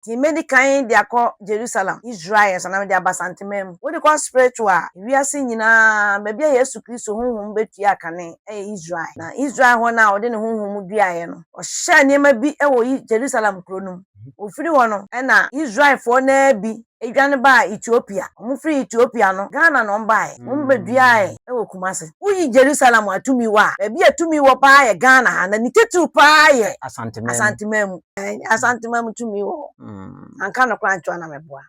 Nti medi kan de akɔ Jerusalem, Israel, so na mede aba Santeman mu. Wode kɔ Sprito a, wiase nyinaa baabi a Yesu Kristo honhom betua kane yɛ Israel. Na Israel hɔ no a ɔde ne honhom duaeɛ no, ɔhyɛɛ nneɛma bi wɔ Jerusalem kuro no mu. Ɔfiri hɔ no na Israelfoɔ no ara bi dwane baa Ethiopia. Wɔfiri Ethiopia no, Ghana na wɔbaeɛ. Wɔbɛduaeɛ wɔ Kumasi. Woyi Jerusalem a tumi wɔ a, baabi a tumi wɔ pa ara yɛ Ghana ha na ne titiriw pa ara yɛ Asanteman mu. Asanteman tumi wɔ hɔ. Mm. Anka no koraa nkyɛn na mɛboa.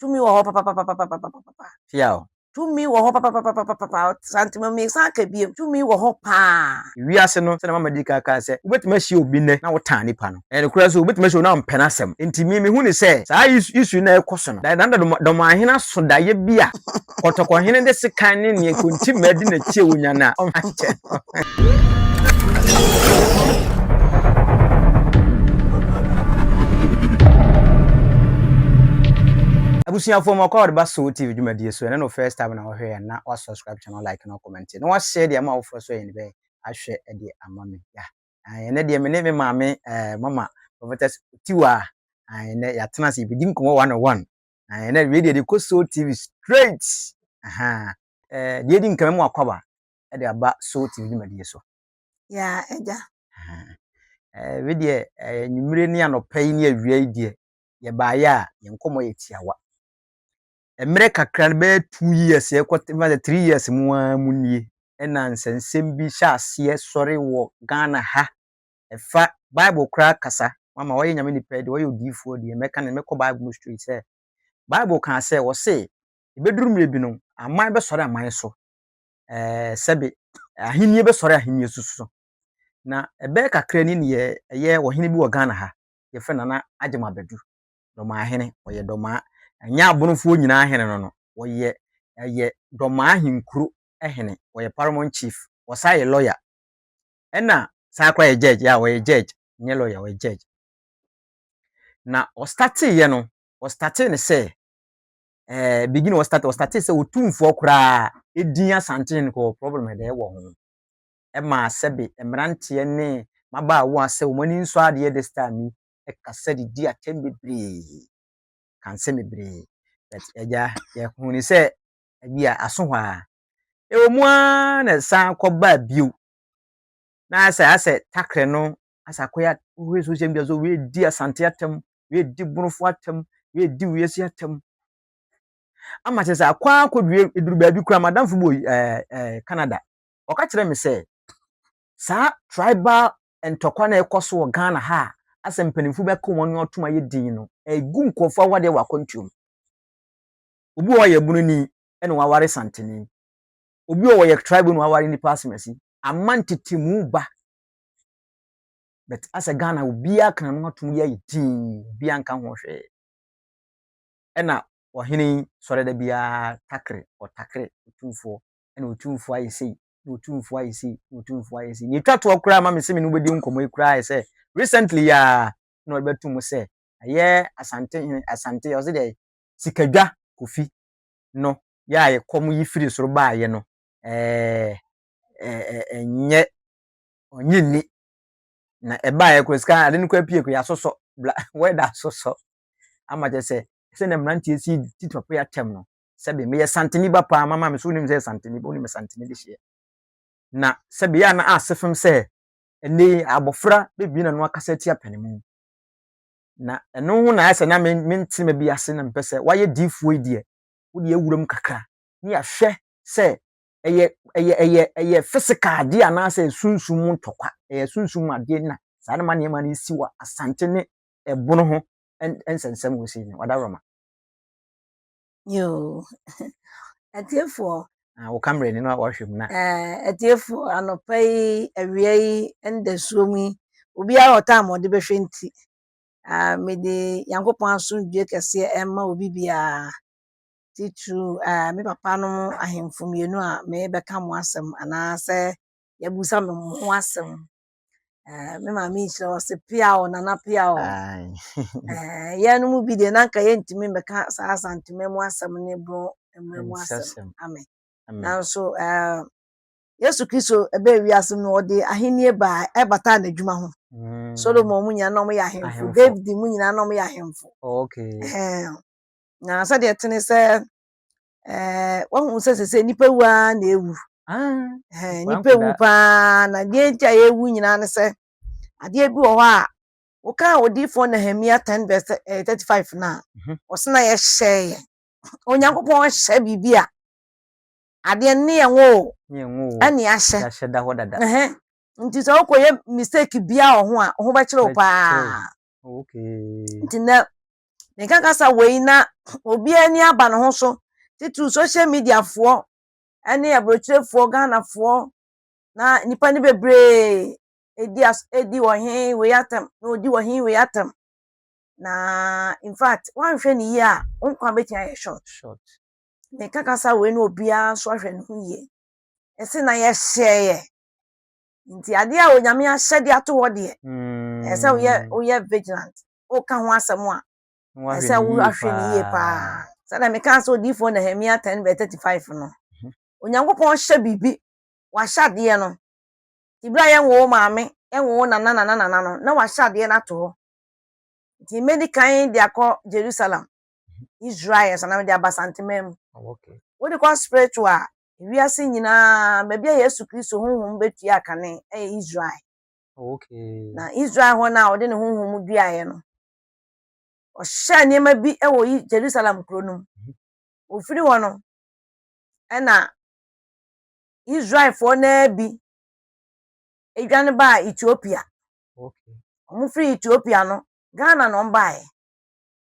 Tumi wɔ hɔ papapapapapapapa. Tia o. Tumi wɔ hɔ papapapapapapa. Asanteman mi san ka biem. Tumi wɔ hɔ paa. Wiase no sɛnea mama di kan kaa sɛ wobɛtumi ahyia obi nnɛ na wotaa nipa no. Ɛyɛ nokorɛ so wobɛtumi ahyia obi na wompɛ n'asɛm. Enti me mehu no sɛ saa issue yi na ɛrekɔ so no, da, da, da, dɔm, dɔm ahene aso daeɛ bi a. Kɔtɔkɔhene de sekan ne nea kontimmaa di n'akyi a wonya no a, ɔma kyɛ abusuafo mu ɔkɔ ɔde ba so tv dwumadie so ɛne no first time na wɔhwɛ yɛn na wasubscribe channel like na comment na wahyɛ deɛ ama awofoɔ so yɛn bɛyɛ ahwɛ deɛ ama me ya ɛnɛ deɛ me ne me maame ɛɛ mama prophetess tiwa ɛnɛ yɛatena ase yɛbɛdi nkɔmmɔ one on one Ahan, na wei deɛ de kɔ Soul TV straight. Ahan. Eh, deɛ di nka mɛmu akwaba de aba Soul TV dwumadie so. Ya, agya. Ahan. Eh, wei deɛ eh, nwummere ne anɔpa yi ne awia yi deɛ yɛbaeɛ a yɛn nkɔmmɔ yɛ tiawa. Mmerɛ kakra no bɛyɛ two years ɛkɔ sɛ three years mu ara mu nie ɛna nsɛnsɛm bi hyɛ aseɛ sɔre wɔ Ghana ha ɛfa Bible koraa kasa. Mama ɔyɛ Nyame nipa yi deɛ ɔyɛ odiyifoɔ deɛ mɛka no mɛkɔ Bible mu straight sɛ Bible kaa sɛ wɔse ɛbɛduru mmerɛ bi no aman bɛsɔre aman so ɛɛ sɛbe ahennie bɛsɔre ahennie so so na ɛbɛyɛ kakra ni ne ɛyɛ ɔhene bi wɔ Ghana ha yɛfrɛ Nana Agyema Badu dɔmaa hene ɔyɛ dɔmaa ɛnyɛ abonofoɔ nyinaa hene no no ɔyɛ ɛyɛ dɔmaa henkuro hene ɔyɛ paramount chief ɔsan yɛ lawyer Ɛna saa koraa yɛ judge, yeah ɔyɛ judge, nyɛ lawyer, ɔyɛ judge. Na ɔstate yɛ no, ɔstate ne sɛ, eh, begin ɔstate, ɔstate sɛ otumfoɔ koraa edin asanten no kɔ problem ɛdɛ ɛwɔ ho. Ɛma sɛbe mmeranteɛ ne mabaawa sɛ wɔn ani nsɔ adeɛ this time yi, ɛkasa de di atɛm bebree, kansɛm bebree. But ɛgya yɛhuni sɛ ɛbi a aso hɔ a. Ɛwɔ mu ara na ɛsan kɔbaa bio na ayɛ sɛ asɛ takrɛ no asɛ akɔyɛ wohwɛ social media so wei di asante atam wei di borofo atam wei di wiase atam ama kyerɛ sɛ akɔ akɔdue ɛduru baabi koraa madamfo bi wɔ ɛɛ ɛɛ canada ɔka kyerɛ me sɛ saa tribal ntɔkwa na ɛkɔ so wɔ ghana ha a asɛ mpanimfo bi aka wɔn ano atom ayɛ din no ɛgu nkurɔfoɔ awadeɛ wɔ akwantuom obi wɔ yɛ bunu ni ɛna waware santene obi wɔ wɔyɛ tribe no aware nipa asemasi ama ntetemu ba but asɛ ghana obiara kan no atom yɛ ayɛ tii obiara nka ho hwee ɛna ɔhene yi sɔre da biara takere ɔtakere otumfoɔ ɛna otumfoɔ ayɛ sei na otumfoɔ ayɛ sei na otumfoɔ ayɛ sei nea etwa toɔ koraa ma me se me no bɛdi nkɔmmɔ yi koraa sɛ recently ya na ɔde bɛto mu sɛ ɛyɛ asante hene asante ɔse deɛ sikadwa kofi no yɛ a ɛkɔm yi firi soro baeɛ no, ɛɛ, ɛnyɛ, ɔnye nni. Na ɛbaeɛ koraa sika ade no koraa pie koraa yɛasosɔ, bla, wɛda asosɔ. Ama kyɛ sɛ, sɛdeɛ mmeranteɛ si titi papa yi atɛm no, sɛbe meyɛ santene ba paa, mama me so wonim sɛ santene ba, wonim santene de hyeɛ. Na sɛbe yɛ a na ase fem sɛ, ɛnɛ yi abɔfra bɛbie n'ano akasa atia panimu. Na ɛno ho na ayɛ sɛ na me, mente ma bi ase na mepɛ sɛ, wayɛ diifoɔ yi deɛ, wode awura mu kakra na yɛahwɛ sɛ ɛyɛ ɛyɛ ɛyɛ ɛyɛ physical adeɛ anaasɛ sunsum mu ntɔkwa ɛyɛ sunsum mu adeɛ na saa na ma nneɛma no si wɔ asante ne ɛbono ho nsɛnsɛm wɔ sei no wada rɔma yoo atiefoɔ ah, wo kamera ni no a wɔhwɛ mu na eh, atiefoɔ anɔpa yi awia yi ndasuo mu yi obiara ɔtaa ma ɔde bɛhwɛ nti Ah, mede Nyankopɔn asomdwoe kɛseɛ ɛmma obi biara, titiriw ah, me papa no ahemfo mmienu a merebɛka mo asɛm anaasɛ yɛabusa me mo ho asɛm. Ah, me maame nhyira wɔ se pia o nana pia o. Aye. Ah, yɛn mu bi deɛ na anka yɛntumi mmɛka saa asantema mu asɛm ne borɔ mmerɛ mu asɛm. Nhyɛsɛm. Amen. Amen. Nanso ah, Yesu Kristo bɛɛ wiase mu no ɔde ahenni ba a ɛbata n'adwuma ho. Mm. Solomon mu nyinaa na wɔyɛ ahemfo. David mu nyinaa na wɔyɛ ahemfo. Oh, okay. Ɛɛ na sɛdeɛ tene sɛ ɛɛ wɔn sɛ sɛ nipa wu ara na ewu. Ah. Ɛɛ nipa wu paa na deɛ nti a yɛwu nyinaa ne sɛ adeɛ bi wɔ hɔ a wɔkaa odiifoɔ Nehemia ten verse eh, thirty five na mhm. ɔsena yɛhyɛ yɛ Onyankopɔn hyɛ biribi a Adeɛ no ne yɛn wo o. Ne yɛn wo o. Ɛne ahyɛ. Yɛahyɛ da hɔ dada. Ɛhɛ. Nti sɛ wokɔyɛ mistake biara wɔ ho a, wo ho bɛkyere wo paa. Bɛkyere wo. Oh, okay. Nti nnɛ, meka kasa wei na obiara ani aba ne ho so, titiriw social media foɔ ne aburokyerefoɔ, Ghanafoɔ, na nnipa no bebree ɛdi as, ɛdi ɔhe wei atɛm, na ɔdi ɔhe wei atɛm. Na in fact, woanhwɛ ne yie a, wo nkwa bɛtumi ayɛ short. Short. meka kasa wei na obiara nso ahwɛ ne ho yie. Ɛsɛ na yɛhyɛeɛ. Nti adeɛ a Onyame ahyɛde ato hɔ deɛ, mm. ɛsɛ woyɛ woyɛ vigilant. Woka ho asɛm a, ɛsɛ woahwɛ ne yie paa. Sɛdeɛ meka sɛ odiyifoɔ Nehemia 10 bɛ 35 no, mhm. Onyankopɔn hyɛ biribi, wahyɛ adeɛ no. Tibira yɛnwoo maame, yɛnwoo nana nana nana no, na wahyɛ adeɛ no ato hɔ. Nti mɛdi kan de akɔ Jerusalem. Israel sanam de aba Santeman mu. Wode kɔ spiritual a, wiase nyinaa, baabi a Yesu Kristo honhom bɛtua kane yɛ Israel. Na Israel hɔ no a ɔde ne honhom duaeɛ no, ɔhyɛɛ nneɛma bi wɔ Jerusalem kuro no mu. Ɔfiri hɔ no, ɛna Israelfoɔ no ara bi dwane baa Ethiopia. Wɔfiri Ethiopia no, Ghana na wɔbaeɛ.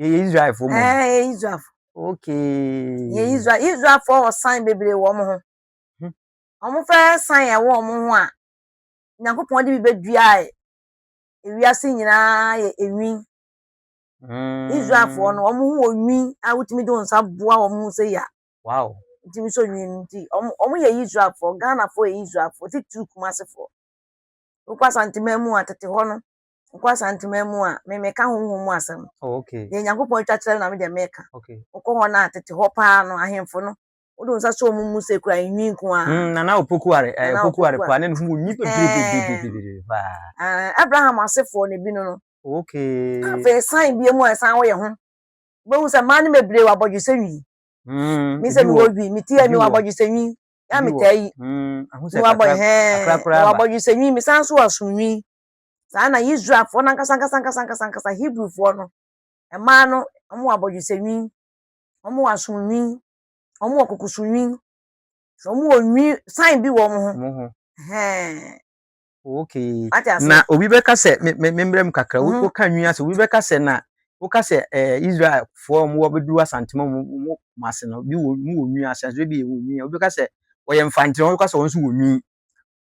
Yɛyɛ Israelfoɔ mmom. Ɛɛ yɛyɛ Israelfoɔ. Okay. Yɛyɛ Israel Israelfoɔ wɔ sign bebree wɔ wɔn ho. Hmm. Wɔn fɛ sign a ɛwɔ wɔn ho a Nyankopɔn de bi bɛdua ewiase nyinaa yɛ enwi. Hmm. Israelfoɔ no wɔn ho wɔ nwi a wotumi de wɔn nsa boa wɔn ho sɛ yia. Wow. Wotumi sɔ nwi no nti wɔn wɔn yɛ Israelfoɔ Ghanafoɔ yɛ Israelfoɔ titiriw Kumasefoɔ. Wokɔ Asanteman mu a tete hɔ no Wokɔ Asanteman mu a, me meka honhom mu asɛm. Oh, okay. Deɛ Nyankopɔn atwa kyerɛ na me deɛ meka. Okay. Wokɔ hɔ no a, tete hɔ paa no, ahemfo no, wode wo nsa sɔ wɔn mu sɛ kura nhwi nko ara. Mm, Nana Opokuare, eh, Nana Opokuare Opokuare. paa, ne no mu nyi bebree paa. Eh, Abraham asefoɔ na ebi no no. Okay. Afei san bie mu a san woyɛ ho. Wobɛhu sɛ mmaa no bebree wɔ abɔdwesɛ nwi. Mm, Me sɛ ebi mewɔ wɔ, dwi, mete a ebi mewɔ wɔ, abɔdwesɛ nwi. Ya ebi wɔ. metaa yi. Mm, ahu sɛ Mewɔ abɔ kakra, hɛn, kakra koraa mewɔ ba. abɔdwesɛ nwi, mesan so wɔ aso nwi. Saa na Israelfoɔ no ankasa ankasa ankasa ankasa ankasa Hebrifoɔ no, mmaa no, wɔwɔ abɔdwesɛ nwi, wɔwɔ asom nwi, wɔwɔ kokoso nwi, wɔwɔ nwi san bi wɔ wɔn ho. Wɔn ho. Hɛn. Okay. Na obi bɛka sɛ memmerɛ mu kakra, mhm. woka nwi ase, obi bɛka sɛ na woka sɛ eh, Israelfoɔ a wɔwɔ bɛduru asantema mu wɔn ase no, bi wɔ nwi ase, ase bi yɛ wɔ nwi, obi bɛka sɛ wɔyɛ mfantene, wɔn nso wɔ nwi.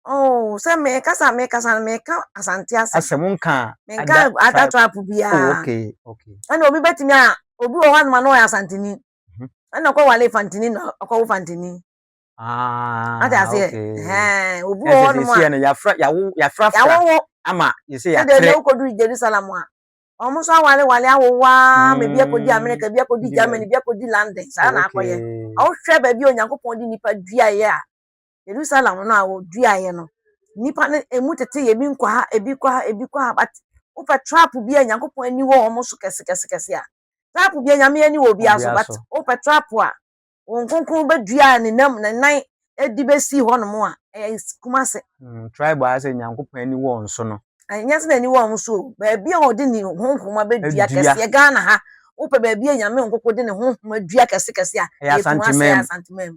Oh, sɛ mekasa mekasa no meka asante asɛm. Asɛm nka a. Menka ada tribe biara. Oh, okay, okay. Ɛna obi bɛtumi a obi wɔ hɔ anoma na ɔyɛ asantini. Mhm. Ɛna ɔkɔ wale fantini na ɔkɔ wo fantini. Ah, Ate aseɛ? Hɛn, obi wɔ hɔ anoma. Ɛsɛ sɛ no yafra yawo yafra fra. Yawo wo. Ama yɛsɛ yɛatrɛ. Ɛdɛ ɛdɛ wokɔdu Jerusalem a. Wɔn nso awale wale awowa mm. ma ebi akɔdi Amerika ebi akɔdi Germany ebi akɔdi London saa na akɔyɛ. Ɔhwɛ baabi a Onyankopɔn de nipa duaeɛ a Jerusalem no a wɔduaeɛ no, nnipa no ɛmu teteyɛ bi nkɔ ha, ebi kɔ ha, ebi kɔ ha, but wopɛ trap bi a Nyankopɔn ani wɔ wɔn so kɛsekɛsekɛse a, trap bi a Nyame ani wɔ obiara so, but wopɛ trap a wɔn nkonkron bɛdua ne nam ne nan ɛde bɛsi hɔ nom a, ɛyɛ Kumase. Mm, tribe a sɛ Nyankopɔn ani wɔ wɔn so no. Ɛnyɛ sɛ n'ani wɔ wɔn so o, baabi a wɔde ne honhom abɛdua kɛseɛ Ghana ha, wopɛ baabi a Nyame nkoko de ne honhom adua kɛsekɛse a, ɛyɛ Kumase, ɛyɛ Asantemamu.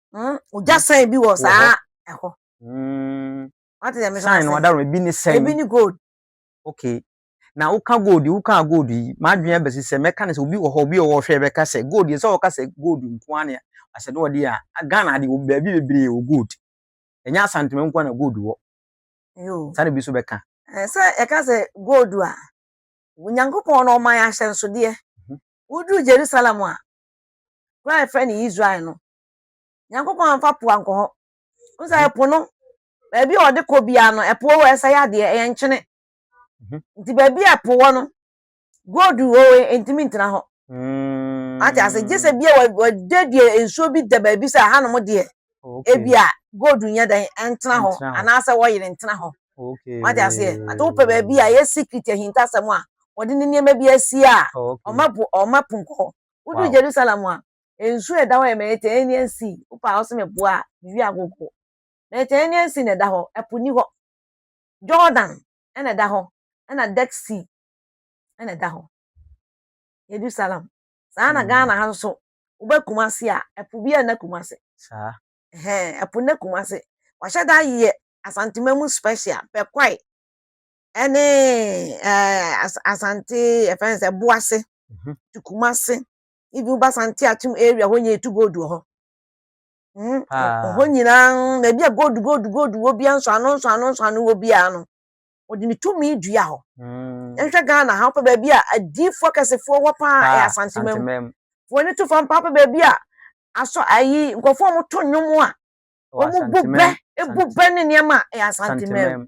Hmm, ogya hmm. sɛn bi wɔ saa ɛhɔ. Hmm. Wate dɛ mesɛ sɛn no ɔda ebi ne sɛn. Ebi ne gold. Okay. Na woka gold woka gold yi m'adwene abɛsi sɛ mɛka ne sɛ obi wɔ hɔ obi wɔ hɔ ɔhwɛ bɛka sɛ gold yɛ sɛ ɔka sɛ gold nko ara ne asɛ ne wɔde a Ghana de baabi bebree wɔ gold. Ɛnyɛ asantuma nko ara na gold wɔ. Yoo. Saa na ebi nso bɛka. Eh, sɛ yɛka sɛ gold a onyankopɔn na ɔma yɛ ahyɛnsodeɛ mhm. woduru jerusalem a Kuro a yɛfrɛ no Israel no, Nyankopɔn amfa po ankɔ hɔ. Wohu sɛ po no, baabi a ɔde kɔ biara no, ɛpo wɔ hɔ, ɛsɛe adeɛ, ɛyɛ nkyene. Mhm. Nti baabi a ɛpo wɔ no, gold wɔ hɔ, ɛntumi ntena hɔ. Mm. Ate ase, gye sɛ bia wɔ- wɔde deɛ nsuo bi da baabi sɛ ahanom deɛ, Okay. ebi a gold nyɛ dɛn, ɛntena hɔ, Ɛntena hɔ. anaasɛ wɔyere ntena hɔ. Okay. Wate aseɛ? Ate wopɛ baabi a ɛyɛ secret ahintasɛm a, wɔde ne nneɛma bi asie a, Okay. ɔma po ɔma po nkɔ hɔ. Wodu Jerusalem a, nsu a ɛda hɔ yɛ Mediterranean Sea. Wopɛ a wose meboa a, mewie agogo. Mediterranean Sea na ɛda hɔ, ɛpo ni hɔ. Jordan na ɛda hɔ, ɛna Dead Sea na ɛda hɔ. Jerusalem. Saa na Ghana ha nso, woba Kumasi a, ɛpo biara nna Kumasi. Saa. Ɛhɛn, ɛpo nna Kumasi. Wahyɛ da ayɛ Asantema mu special, Bɛkwae. ɛne asante yɛfrɛ no sɛ boase mhm. to kumase ibi woba sante atom area hɔ nyinaa etu gold wɔ hɔ mhm. hɔ nyinaa na ebi a gold gold gold wɔ bia nso ano nso ano nso ano wɔ biara no wɔde ne tumi dua hɔ mm. nhwɛ ghana ha wopɛ baabi a adiifoɔ kɛsefoɔ wɔ paa ɛyɛ asante mam wɔn ani to fam paa pɛ baabi a asɔ ayi nkurɔfoɔ a wɔto nnwom a wɔn bu bɛ ebu bɛ ne nneɛma ɛyɛ asante mam.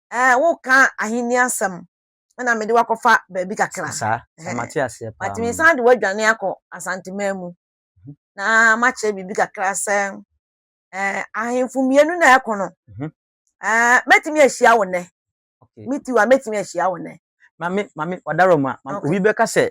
Ɛɛ, woreka Ahenni asɛm na mede wo akɔfa baabi kakra. Saa, saa, mate aseɛ paa. Matumi san de woadwane akɔ Asanteman mu mhm. na makyerɛ biribi kakra sɛ ɛɛ ahemfo mmienu na ɛko no. Mhm. Ɛɛ, mɛtumi ahyia wo nnɛ. Metiw a mɛtumi ahyia wo nnɛ. Maame, maame, ɔdarɔ mu a, obi bɛka sɛ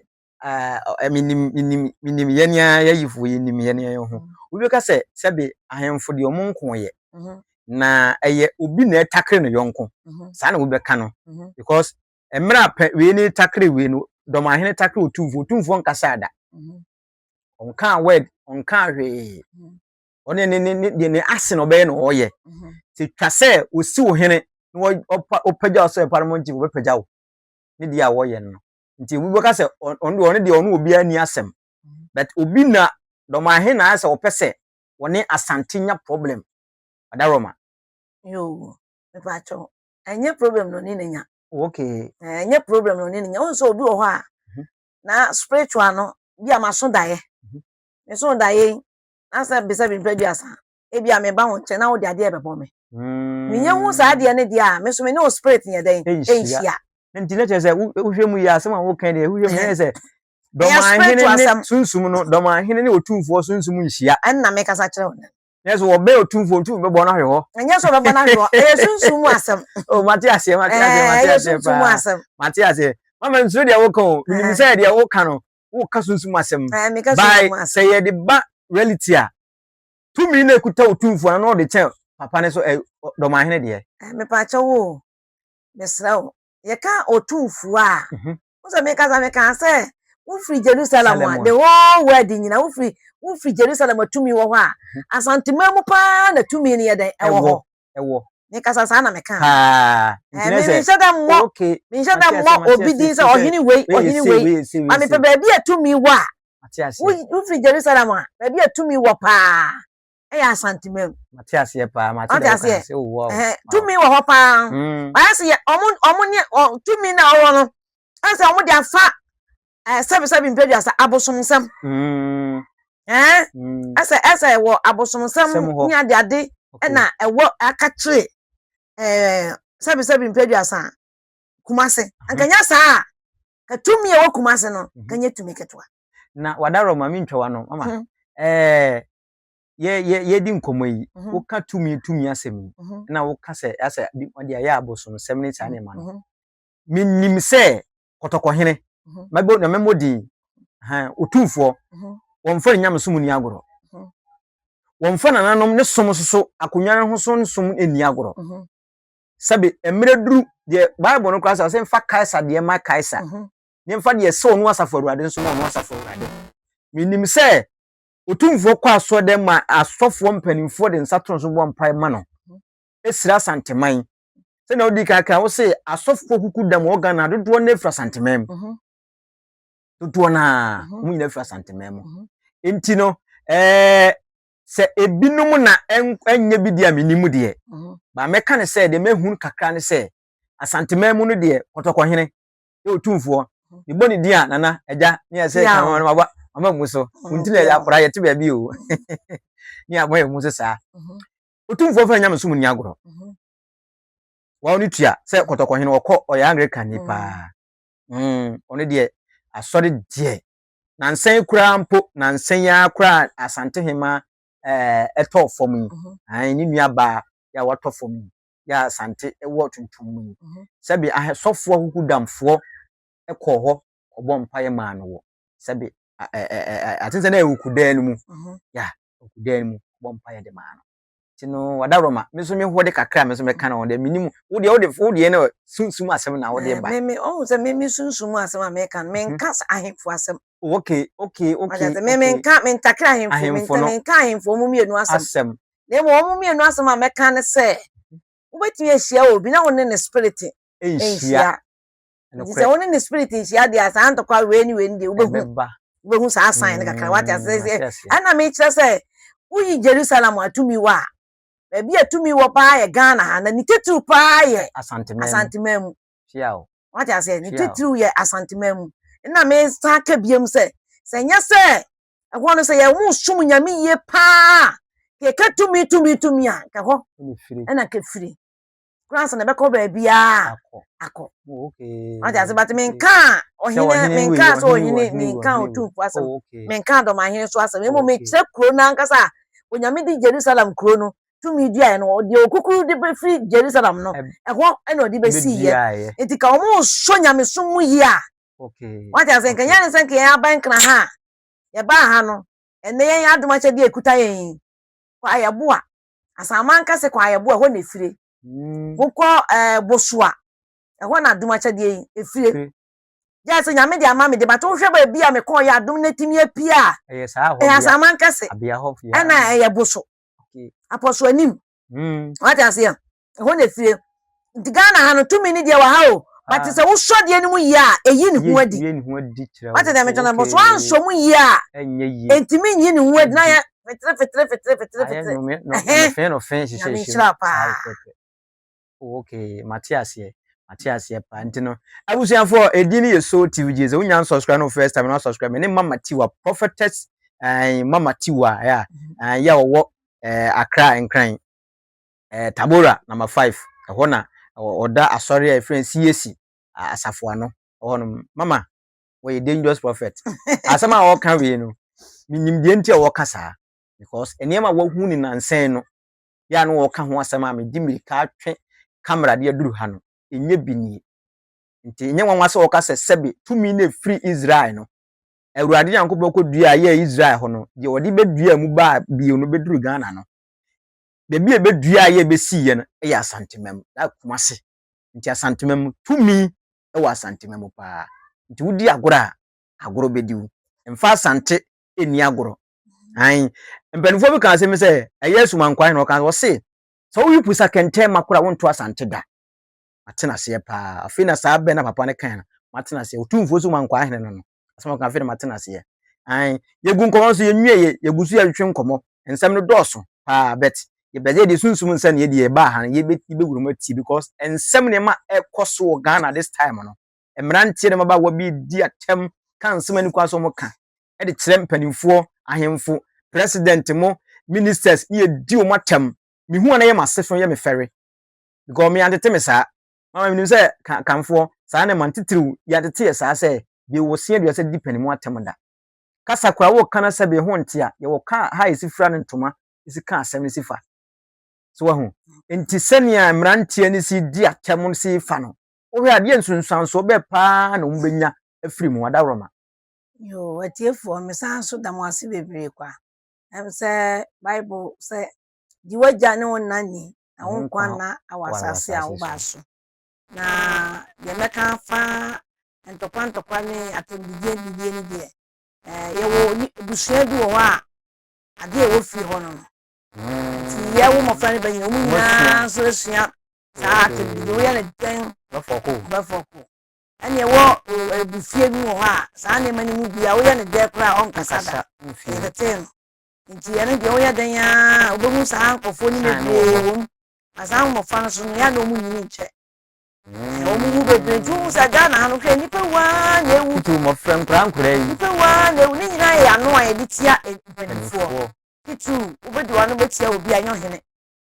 menim yɛn ara yɛyifoɔ yɛnim yɛn yɛn ho mm. wobɛka sɛ sɛbe ahemfo deɛ ɔmo nko yɛ mm-hmm. na ɛyɛ obi na ɛtakere no yɔnko mm-hmm. saa na wobɛka no mm-hmm. because mmerɛ apɛ wei ne takere wei no dɔm ahene takere otumfoɔ otumfoɔ nkasa da ɔnkaa word ɔnkaa hwee ɔne ne ne ne ne ase na ɔbɛyɛ na ɔyɛ te twa sɛ osi wo hene na ɔpagya ɔsɛ ɛpa no mo nti wɔbɛpagya wo ne deɛ a wɔyɛ no nti obi bɛka sɛ ɔno deɛ ɔno deɛ ɔno obiara ni asɛm but obi na dɔm ahe na ayɛ sɛ ɔpɛ sɛ wɔne asante nya problem adaroma. yoo mepatwɔ ɛnyɛ problem na ɔne ne nya okay ɛnyɛ problem na ɔne ne nya ɔnsɛ obi wɔ hɔ a mhm. na spiritual no bi a maso daeɛ mhm. meso daeɛ yi na sɛ bisa bi mpɛ bi asa ebia meba wo nkyɛn na wode adeɛ rebɛbɔ me. Menyɛ hu saa adeɛ no deɛ a, me nso me ne wo spirit nyɛ dɛn? Ɛnhyia. Nti na kyerɛ sɛ wohwɛ mu yɛ asɛm a woka deɛ wohwɛ mu yɛ sɛ dɔmanhene ne sunsum no dɔmanhene ne otumfoɔ sunsum nhyia. Ɛnna mekasa kyerɛ wo no. Nyɛ sɛ wɔbɛn otumfoɔ ntumi bɛbɔ no ahwe hɔ. Nyɛ sɛ wɔbɛbɔ no ahwe hɔ. Ɛyɛ sunsum mu asɛm. O mate aseɛ mate aseɛ mate aseɛ paa. Mate aseɛ. Mama nsuro deɛ woka o. Menim sɛ deɛ woka no woka sunsum asɛm. By sɛ yɛde ba reality a Tumi na ekuta wo tumfoɔ no na ɔde kyɛn papa no so ɛ dɔmahene deɛ. Ɛ mepaakyɛ wo o, mesrɛ wo. Yɛka otumfoɔ a, wo sɛ mekasa mekaa sɛ wofiri Jerusalem a, the whole world nyina wofiri wofiri Jerusalem a tumi wɔ hɔ a, Asanteman mu paa na tumi no yɛ dɛn ɛwɔ hɔ. ɛwɔ. Mekasa saa na meka. Paa. Ɛɛ me menhyɛ da mmɔ okay. menhyɛ da mmɔ obi din sɛ ɔhene wei ɔhene wei ma mepɛ baabi a tumi wɔ a wofiri Jerusalem a baabi a tumi wɔ paa ɛyɛ Asanteman mu. Mate aseɛ paa mate dɛ woka sɛ wowɔ hɔ. Tumi wɔ hɔ paa. Wɔayɛ sɛ ɔmo ɔmo ne tumi na ɔwɔ no ɛsɛ ɔmo de afa Sɛbesɛbe mpeduasa abosomsɛm. Ɛsɛ ɛsɛ wɔ abosomsɛm ne adeade na ɛwɔ akakyere sɛbesɛbe mpeduasa kumase. Nkanya saa a tumi a ɛwɔ kumase no kanya tumi ketewa. Na wadarɔ ma mentwa wa no mama. Yɛdi nkɔmmɔ yi woka tumi tumi asɛm yi na woka sɛ asɛ ɔde ayɛ abosomsɛm ne saa nneɛma no. Menim sɛ kɔtɔkɔhene mɛbɔ na mɛmmɔ din hɛn otumfoɔ wɔmfa ne nyamesom nni agorɔ wɔmfa nananom ne som nso so akonnwa no ho so nsom nni agorɔ sɛbe mmerɛ duru deɛ bible no koraa sɛ ɔsɛ mfa kaesa deɛ ma kaesa ne mfa deɛ sɛ ɔno asafo awurade nso ma ɔno asafo awurade menim sɛ otumfoɔ kɔ asɔre dɛ ma asɔfoɔ mpanimfoɔ de nsa to no so bɔ mpae ma no ɛsira asanteman sɛnea wodi kan kan wose asɔfoɔ kuku dam wɔ ghana dodoɔ no afiri asanteman mu mhm. dodoɔ no a mhm. wɔn nyinaa afiri asanteman mu mhm. nti no ɛɛ sɛ ebinom na ɛnyɛ bi deɛ a menim deɛ baa mɛka ne sɛ deɛ mɛhunu kakra ne sɛ asanteman mu no deɛ kɔtɔkɔhene ɛwɔ tumfoɔ mebɔ ne din a nana agya ne yɛ sɛ kan wɔn aba ama mu so nti na yɛ akora yɛte baabi o ne abɔ yɛ mu so saa otumfoɔ fɛ nyamesom nni agorɔ mhm. wɔn no tua sɛ kɔtɔkɔhene wɔkɔ ɔyɛ anglican ni paa mm. ɔno deɛ asɔre deɛ nansɛn koraa mpo nansɛn yi ara koraa asante hema ɛtɔ fam yi mhm. ne nua baa yɛ a watɔ fam yi yɛ a asante ɛwɔ tuntum mu yi mhm. sɛbi ahɛsɔfoɔ kuku damfoɔ ɛkɔɔ hɔ ɔbɔ mpaeɛ maa no wɔ sɛbi atensɛn a ɛwɔ kudan no mu ya ɔkudan mu bɔ mpaeɛ de maa no nti no wada Roma me nso mehɔ de kakra me nso mɛka no ho deɛ menim wo deɛ wode wo deɛ no sunsum asɛm na wode eh, ba me me ɔhu sɛ me me sunsum asɛm a meka no menka mhm. ahemfo asɛm oh, okay okay okay ɔyɛ me menka mentakere ahemfo me menka ahemfo ɔmo mmienu asɛm asɛm na emu ɔmo mmienu asɛm a mɛka ne sɛ mhm. wobɛtumi ahyia obi na wo ne ne spirit nhyia nti sɛ wo ne ne spirit nhyia deɛ a saa ntɔkwa wei ne wei no deɛ wobɛhu ɛbɛba wobɛhu saa sign no kakra wate ase Mm, sɛ mate aseɛ. ɛna mekyerɛ sɛ woyi jerusalem a tumi wɔ a baabi a tumi wɔ paa yɛ ghana ha na ne titiriw paa yɛ asanteman mu asanteman mu hyia o wate aseɛ ne hyia o titiriw yɛ asanteman mu ɛna mesan ka biam sɛ sɛ nyɛ sɛ ɛhɔ no sɛ yɛ mo som nyame yie paa a, yɛka tumi tumi tumi a nka hɔ ɛne firi ɛna nka firi kura nsa na ɛbɛkɔ baabiara akɔ ɔte ase but menka ɔhene menka sɛ ɔhene menka ɔtumfo asɛm oh, menka dɔmahene so asɛm mmom mekyerɛ kuro no ankasa a onyame de jerusalem kuro no tumi duaeɛ no deɛ ɔkukuru de bɛfiri jerusalem no ɛhɔ ɛna ɔde bɛsiiɛ nti ka wɔn ɔsɔ nyamesom mu yie a wate ase nka yɛne sɛ nka yɛn aban nkena ha a yɛbaa ha no ɛnɛ yɛn adom akyɛdeɛ ɛkuta yɛn yi kɔ ayɛboa Asaman kɛse kɔ ayɛbo a ɛhɔ na efire. Mm. Wokɔ ɛɛ eh, Bosua ɛhɔ na adum akyɛdeɛ yi efire. Gya sɛ nyame de ama me de bata wohwɛ baabi a mekɔɔ yɛ adum na etimi apie a. Ɛyɛ saa hɔ bia. Ɛyɛ asaman kɛse. Abia hɔ fia. Ɛna ɛyɛ boso. Apɔso anim. Mm. Wate aseɛ. ɛhɔ na efie nti ghana ha no tumi ne deɛ wɔ ha o bate sɛ wosɔ deɛ no mu yie a ɛyi ne ho adi wate deɛ meka no bɔ so ansɔ mu yie a ɛntumi nyi ne ho adi na yɛ fetire fetire fetire fetire fetire nyame nhyira paa okay mate aseɛ mate aseɛ paa nti no abusuafoɔ ɛdi no yɛ so tv gye sɛ wonya nsubscribe no first time no asubscribe me ne mama tiwa prophetess eh, mama tiwa ya eh, ya wɔwɔ eh, akra nkran eh, Tabora number five ɛhɔ na ɔda asɔre a efirɛ CAC asafo ano ɛhɔ nom mama wɔyɛ dangerous prophet asɛm a wɔka wei no menim deɛ nti a wɔka saa because nneɛma wɔhu ne nansɛn no yɛ a no wɔka ho asɛm a medi mirika atwe kamera de aduru ha no ɛnyɛ bi nie nti ɛnyɛ nwanwa sɛ wɔka sɛ sɛbe tumi no ɛfiri Israel no awurade nyankopɔn kɔdua a yɛ Israel hɔ no deɛ wɔde bɛdua mu baa bio no bɛduru Ghana no baabi a ɛbɛduaa yɛ bɛsiiɛ no yɛ Asantema mu, that Kumasi. Nti Asantema mu, tumi wɔ Asantema mu paa. Nti wodi agorɔ a, agorɔ bɛdi wo. Mfa Asante nni agorɔ. Aane. Mpanimfoɔ bi kaa asɛm bi sɛ, ɛyɛ Asumankwan na ɔkaa, ɔse, sɛ woyi pusa kɛntɛn ma koraa a, wonto Asante da. Mate no aseɛ paa. Afei na saa bɛ no a papa no kae no, mate no aseɛ. Otumfoɔ Asumankwahene no no. asɛm ɔka afei na mate n'aseɛ an yɛgu nkɔmmɔ nso yɛnwieɛ yɛgu so yɛtwetwe nkɔmmɔ nsɛm no dɔɔso paa but yɛbɛsɛ yɛde sunsum nsɛ ne yɛdeɛ ɛbaa ha no yɛbɛwura mu atie because nsɛm nneɛma ɛkɔ so wɔ Ghana this time no mmeranteɛ ne mmabaawa bi di atɛm ka nsɛm ani kwan so wɔn ka ɛde kyerɛ mpanimfoɔ ahemfo president mo ministers ne yɛdi wɔn atɛm mehu a na yɛ m'ase so yɛ me fɛre because me antete me saa Mama menim sɛ ka kanfoɔ saa ne man titiriw yi atete yɛ saa sɛ bee wɔ sin aduasa didi pɛne mu atɛm da. Kasa koraa wo ka na sɛ bee ho nte a yɛwɔ ka ha a yɛsi fira ne ntoma si ka asɛm no si fa. So wahu? Enti sɛnea mmeranteɛ no si di atɛm no si fa no, wohwɛ a deɛ nsunsuansoɔ bɛɛ paa na wɔbɛnya afiri mu? Adaworoma. Yoo, atiefoɔ, mesan nso da mo ase bebree kwa. Ɛm sɛ Bible sɛ, Di w'agya ne wo na ni, na wo nkwa nna wɔ asase a wobaa so. Na deɛ mɛka afa ntɔkwa ntɔkwa ne atɛmdidie didie no deɛ, eh, yɛwɔ abusua bi wɔ hɔ a adeɛ ɛwɔ fie hɔ no no nti yɛ wo mmɔfra no bɛnyina ɔmu nyinaa nso asua saa atɛmdidie woyɛ no dɛn bɛfɔ ko ɛne ɛwɔ abufie bi wɔ hɔ a saa nneɛma no mu bia woyɛ no dɛn koraa ɔnkasa da yɛtetee no Nti ɛno deɛ woyɛ dɛn ara a wobɛhu saa nkurɔfoɔ no bebree wɔ mu. Na saa mmɔfra no so no yɛ a na wɔn nyini nkyɛ. Wɔn wu bebree nti wohu sɛ Ghana ha no hwɛ nnipa wu ara na ewu. Tutu mmɔfra nkoraa nkoraa yi. Nnipa wu ara na ewu. Ne nyinaa yɛ ano a yɛde tia mpanimfoɔ. Tutu wobɛdi w'ano bɛtia obi a ɛnyɛ ɔhene.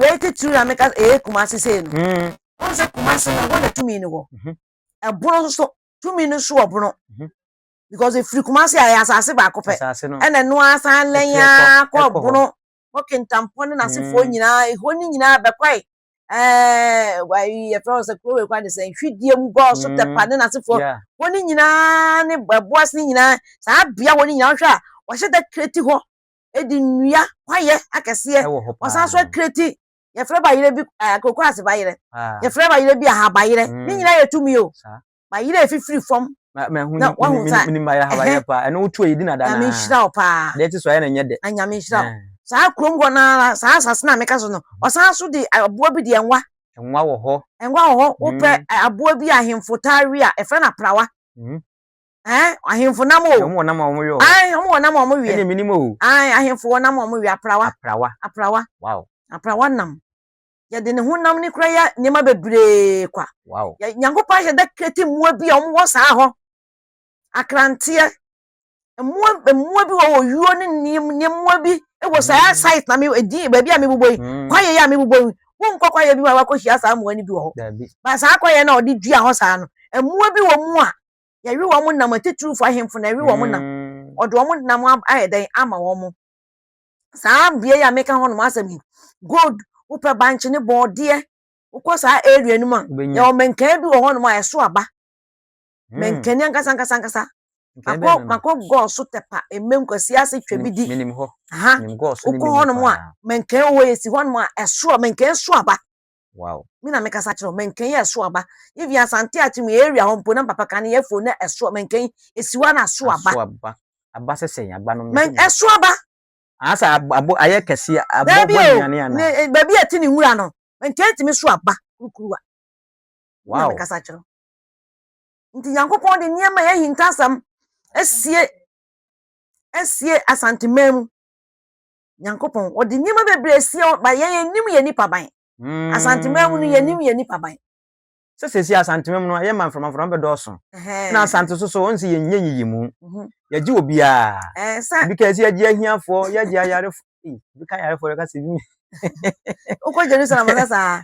Wei titiriw na meka ɛyɛ Kumasi sei no. Mm. Wɔn sɛ Kumasi no hɔ na tumi no wɔ. Mhm. Ɛbono nso tumi no so wɔ bono. Mhm. Because efiri Kumasi a ɛyɛ asase baako pɛ. Asase no. Ɛna ɛno asan lɛn ara kɔ bono. Kɔ Kintampɔ ne n'asefoɔ mm. nyinaa ehɔ ne nyinaa bɛkɔe. Ɛɛ wayi yɛfrɛ wɔn sɛ kuro wei kwan de sɛ nhwidie mu gɔɔ so mm. tɛpa ne n'asefoɔ. Hɔ ne nyinaa ne ɛboas ne nyinaa saa bea hɔ ne nyinaa wɔhwɛ a wɔhyɛ dɛ kireti hɔ. de nnua kwaeɛ akɛseɛ wɔ hɔ paa wɔsan so akireti yɛfrɛ bayerɛ bi ɛɛ kokoraase bayerɛ yɛfrɛ bayerɛ bi ahabayerɛ mm. ne nyinaa yɛ tumi o bayerɛ efifiri fam na wahu sa ɛhɛn ɛno wotu ayɛ di na da naa nyame nhyira wo paa deɛ ti so ayɛ na nyɛ dɛ na nyame nhyira wo saa kurom hɔ naa saa asase na meka so no ɔsan so de aboa bi deɛ nwa nwa wɔ hɔ nwa wɔ hɔ wopɛ mm. aboa bi ahemfo taa wi a ɛfrɛ no aprawa mm. Ɛn, ahemfo nam o. Na wɔn wɔ nam a wɔn wia o. Ae, wɔn wɔ nam a wɔn wia. Ɛne minim o. Ae, ahemfo wɔ nam a wɔn wia. Aprawa. Aprawa. Aprawa. Wow. Aprawa nam. Yɛde ne ho nam ne kura yɛ nneɛma bebree kwa. Wow. Yɛ Nyankopɔn ahyɛ da kreti mmoa bi a wɔn wɔ saa hɔ. Akranteɛ. Mmoa mmoa bi wɔ wɔ yuo ne nneɛma bi wɔ saa mm. site na mi edin baabi a mi bobɔ yi. Mm. Kwaeɛ yi a mi bobɔ yi. Wɔn nkɔ kwaeɛ bi ma wakɔ hyia saa mmoa no bi wɔ hɔ. Ba saa kwaeɛ na ɔde dua hɔ saa no. Mmoa bi wɔ mu a Yɛwe wɔn nam atitiriwfo ahemfo na yɛwe wɔn nam. Mm. Ɔde wɔn nam ayɛ dɛn ama wɔn. Saa bea yi a meka hɔ nom asɛm yi, gold wopɛ bankye ne bɔɔdeɛ wokɔ saa area no mu a yɛwɔ mɛnkan bi wɔ hɔ nom a ɛso aba. Mm. Mɛnkani ankasa ankasa ankasa. Makɔ makɔ gɔɔ so tɛpa mmɛm kwasi ase twɛ bi di. Wokɔ hɔ nom a mɛnkan wɔ hɔ yɛsi hɔ nom a ɛso a mɛnkan so aba. Wow. Me na mekasa kyerɛ wo, mɛnkɛn yɛ ɛso aba. Even Asante Akyem area hɔ mpo na papa kan yɛ fo na ɛso mɛnkɛn esi hɔ na ɛso aba. Ɛso aba. Aba sɛ sɛn aba no. Mɛn ɛso aba. Asa abo ayɛ kɛse abo bɔ nnuane ana. Ne eh, baabi a ɛte ne nwura no. Mɛnkɛn tumi so aba kurukuruwa. Wow. Na mekasa kyerɛ wo. Nti Nyankopɔn de nneɛma yɛ hintasɛm asie asie Asante man mu. Nyankopɔn ɔde nneɛma bebree asie hɔ ba yɛn yɛnnim yɛn nipaban. Mm. Asanteman mu no yɛnnim yɛn nipaban. Sɛ sɛsi Asanteman mu no ayɛ ma mframafram bɛdɔɔso. Na Asante so so ɔnsi yɛn nyɛ yiyi mu. Mhm. Yɛgye wɔ biara. Eh, sɛ. Ebi ka si yɛgye ahiafoɔ, yɛgye ayarefo. Ebi ka ayarefo yɛka sɛ bi. Wokɔ Jerusalem sɛ saa.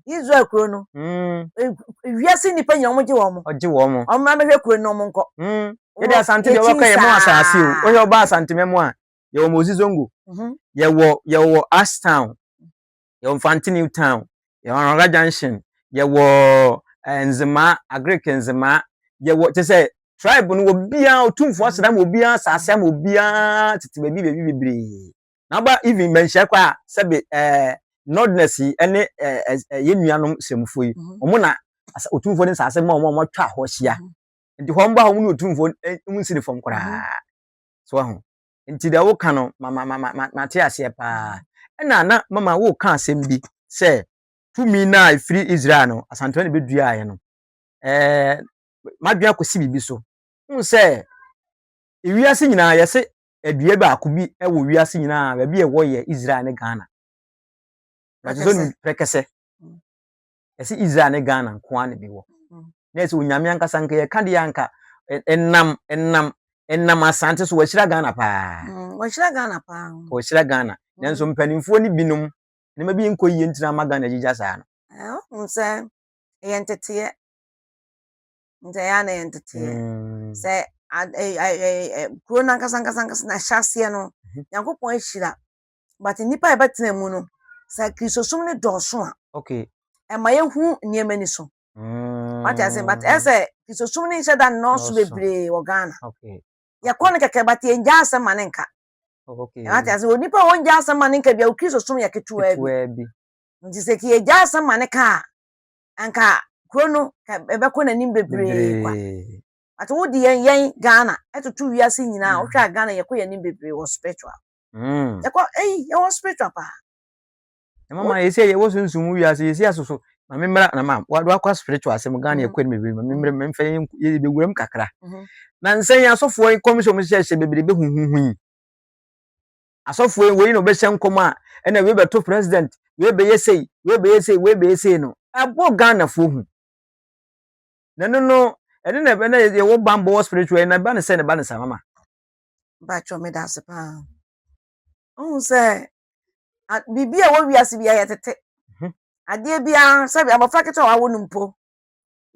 Israel kuro no. Mm. Eh, wiase nipa nyina wɔn gye wɔn. Ɔgye wɔn. Wɔn mmra bɛhwɛ kuro no wɔn nkɔ. Mm. Yɛde Asante deɛ wɔkɔ yɛ mu asase o. Wɔhwɛ ɔba Asanteman mu a. yɛwɔ Mosi Zongo, mhm. yɛwɔ yɛwɔ Ash Town, yɛwɔ Mfanti New Town, yɛwɔ Anwaga Junction, yɛwɔ eh, Nzema, Agric Nzema, yɛwɔ te sɛ tribe no wɔ biara otumfoɔ aseda ma obiara asase ama obiara tete baabi baabi bebree. Na aba even mmanhyia kɔ a sɛbe ɛɛ eh, nordness yi ɛne ɛɛ eh, ɛɛ yɛn nuanom sɛmufo yi, mhm. wɔn na otumfoɔ ne nsase ma wɔn a wɔatwa hɔ ahyia. Mhm. Nti hɔ mba hɔ mu ne otumfoɔ mu nsi ne fam koraa. So wahu? Nti deɛ woka no, ma ma ma ma mate aseɛ paa. Ɛna na mama woka asɛm bi sɛ tumi no a ɛfiri Israel no, Asantewaa na ɛbɛduaeɛ no. Ɛɛ, madwene akɔsi biribi so. Wohu sɛ wiase nyinaa yɛse adua baako bi wɔ wiase nyinaa baabi a ɛwɔ yɛ Israel ne Ghana. Prɛkɛsɛ. Prɛkɛsɛ. ɛsɛ Israel ne Ghana nko ara na ebi wɔ. Na ɛsɛ onyame ankasa nka yɛ ka deɛ anka ɛnam ɛnam ɛnam asante so wɔahyira Ghana paa. Mm, wɔahyira Ghana paa. Wɔahyira Ghana. Mm. Nanso mpanimfoɔ no binom nneɛma bi nkɔ yie ntina ama Ghana gyigya saa no. Ɛho sɛ ɛyɛ nteteɛ. Nti ɛyɛ a na ɛyɛ nteteɛ. Mm. Sɛ kuro no ankasa ankasa ankasa na ɛhyɛ aseɛ no, mhm. Nyankopɔn ahyira but nnipa a yɛbɛtena mu no sɛ kristosom no dɔɔso a okay ɛma yɛhu nneɛma ni so mm. wate ase but ɛsɛ kristosom no nhyɛ da nnɔɔso bebree wɔ ghana yɛkɔ no kɛkɛ but yɛngya asɛm ma ne nka wate ase onipa a wɔngya asɛm ma ne nka bia wo kristosom yɛ ketewaa bi nti sɛ yɛgya asɛm ma ne ka a anka kuro no ɛbɛkɔ n'anim bebree kwa ate wode yɛn yɛn ghana ɛtoto wiase nyinaa wohwɛ a ghana yɛkɔ yɛn anim bebree wɔ spiritual Mm. Yɛkɔ ɛyi yɛwɔ spiritual paa. Na mama yɛsi yɛ wɔ sunsun mu wiase yɛsi asoso ma me mmra na ma wado akɔ spiritual asɛm Ghana mm-hmm. yɛ kɔn mi bi ma me mmra ma mfɛ yɛ bɛ wuram kakra. Mm-hmm. Na nsɛn yɛ asɔfoɔ yi kɔm sɛ wɔn hyɛ hyɛ bebree bɛ huhuhu yi. Asɔfoɔ yi wɔyi na wɔbɛhyɛ nkɔm a ɛna wei bɛto president wei bɛyɛ sei wei bɛyɛ sei wei bɛyɛ sei no ɛbɔ Ghanafoɔ hu. Na ɛno no ɛne na ɛbɛ na yɛwɔ bambɔ wɔ spiritual yi na ɛba ne sɛ na ɛba ne saa mama. Mpakyɛ medase paa. Wohu sɛ biribi a ɛwɔ wiase bi ayɛ tete. Mhm. Adeɛ biara sɛbi abɔfra ketewa a wawo no mpo.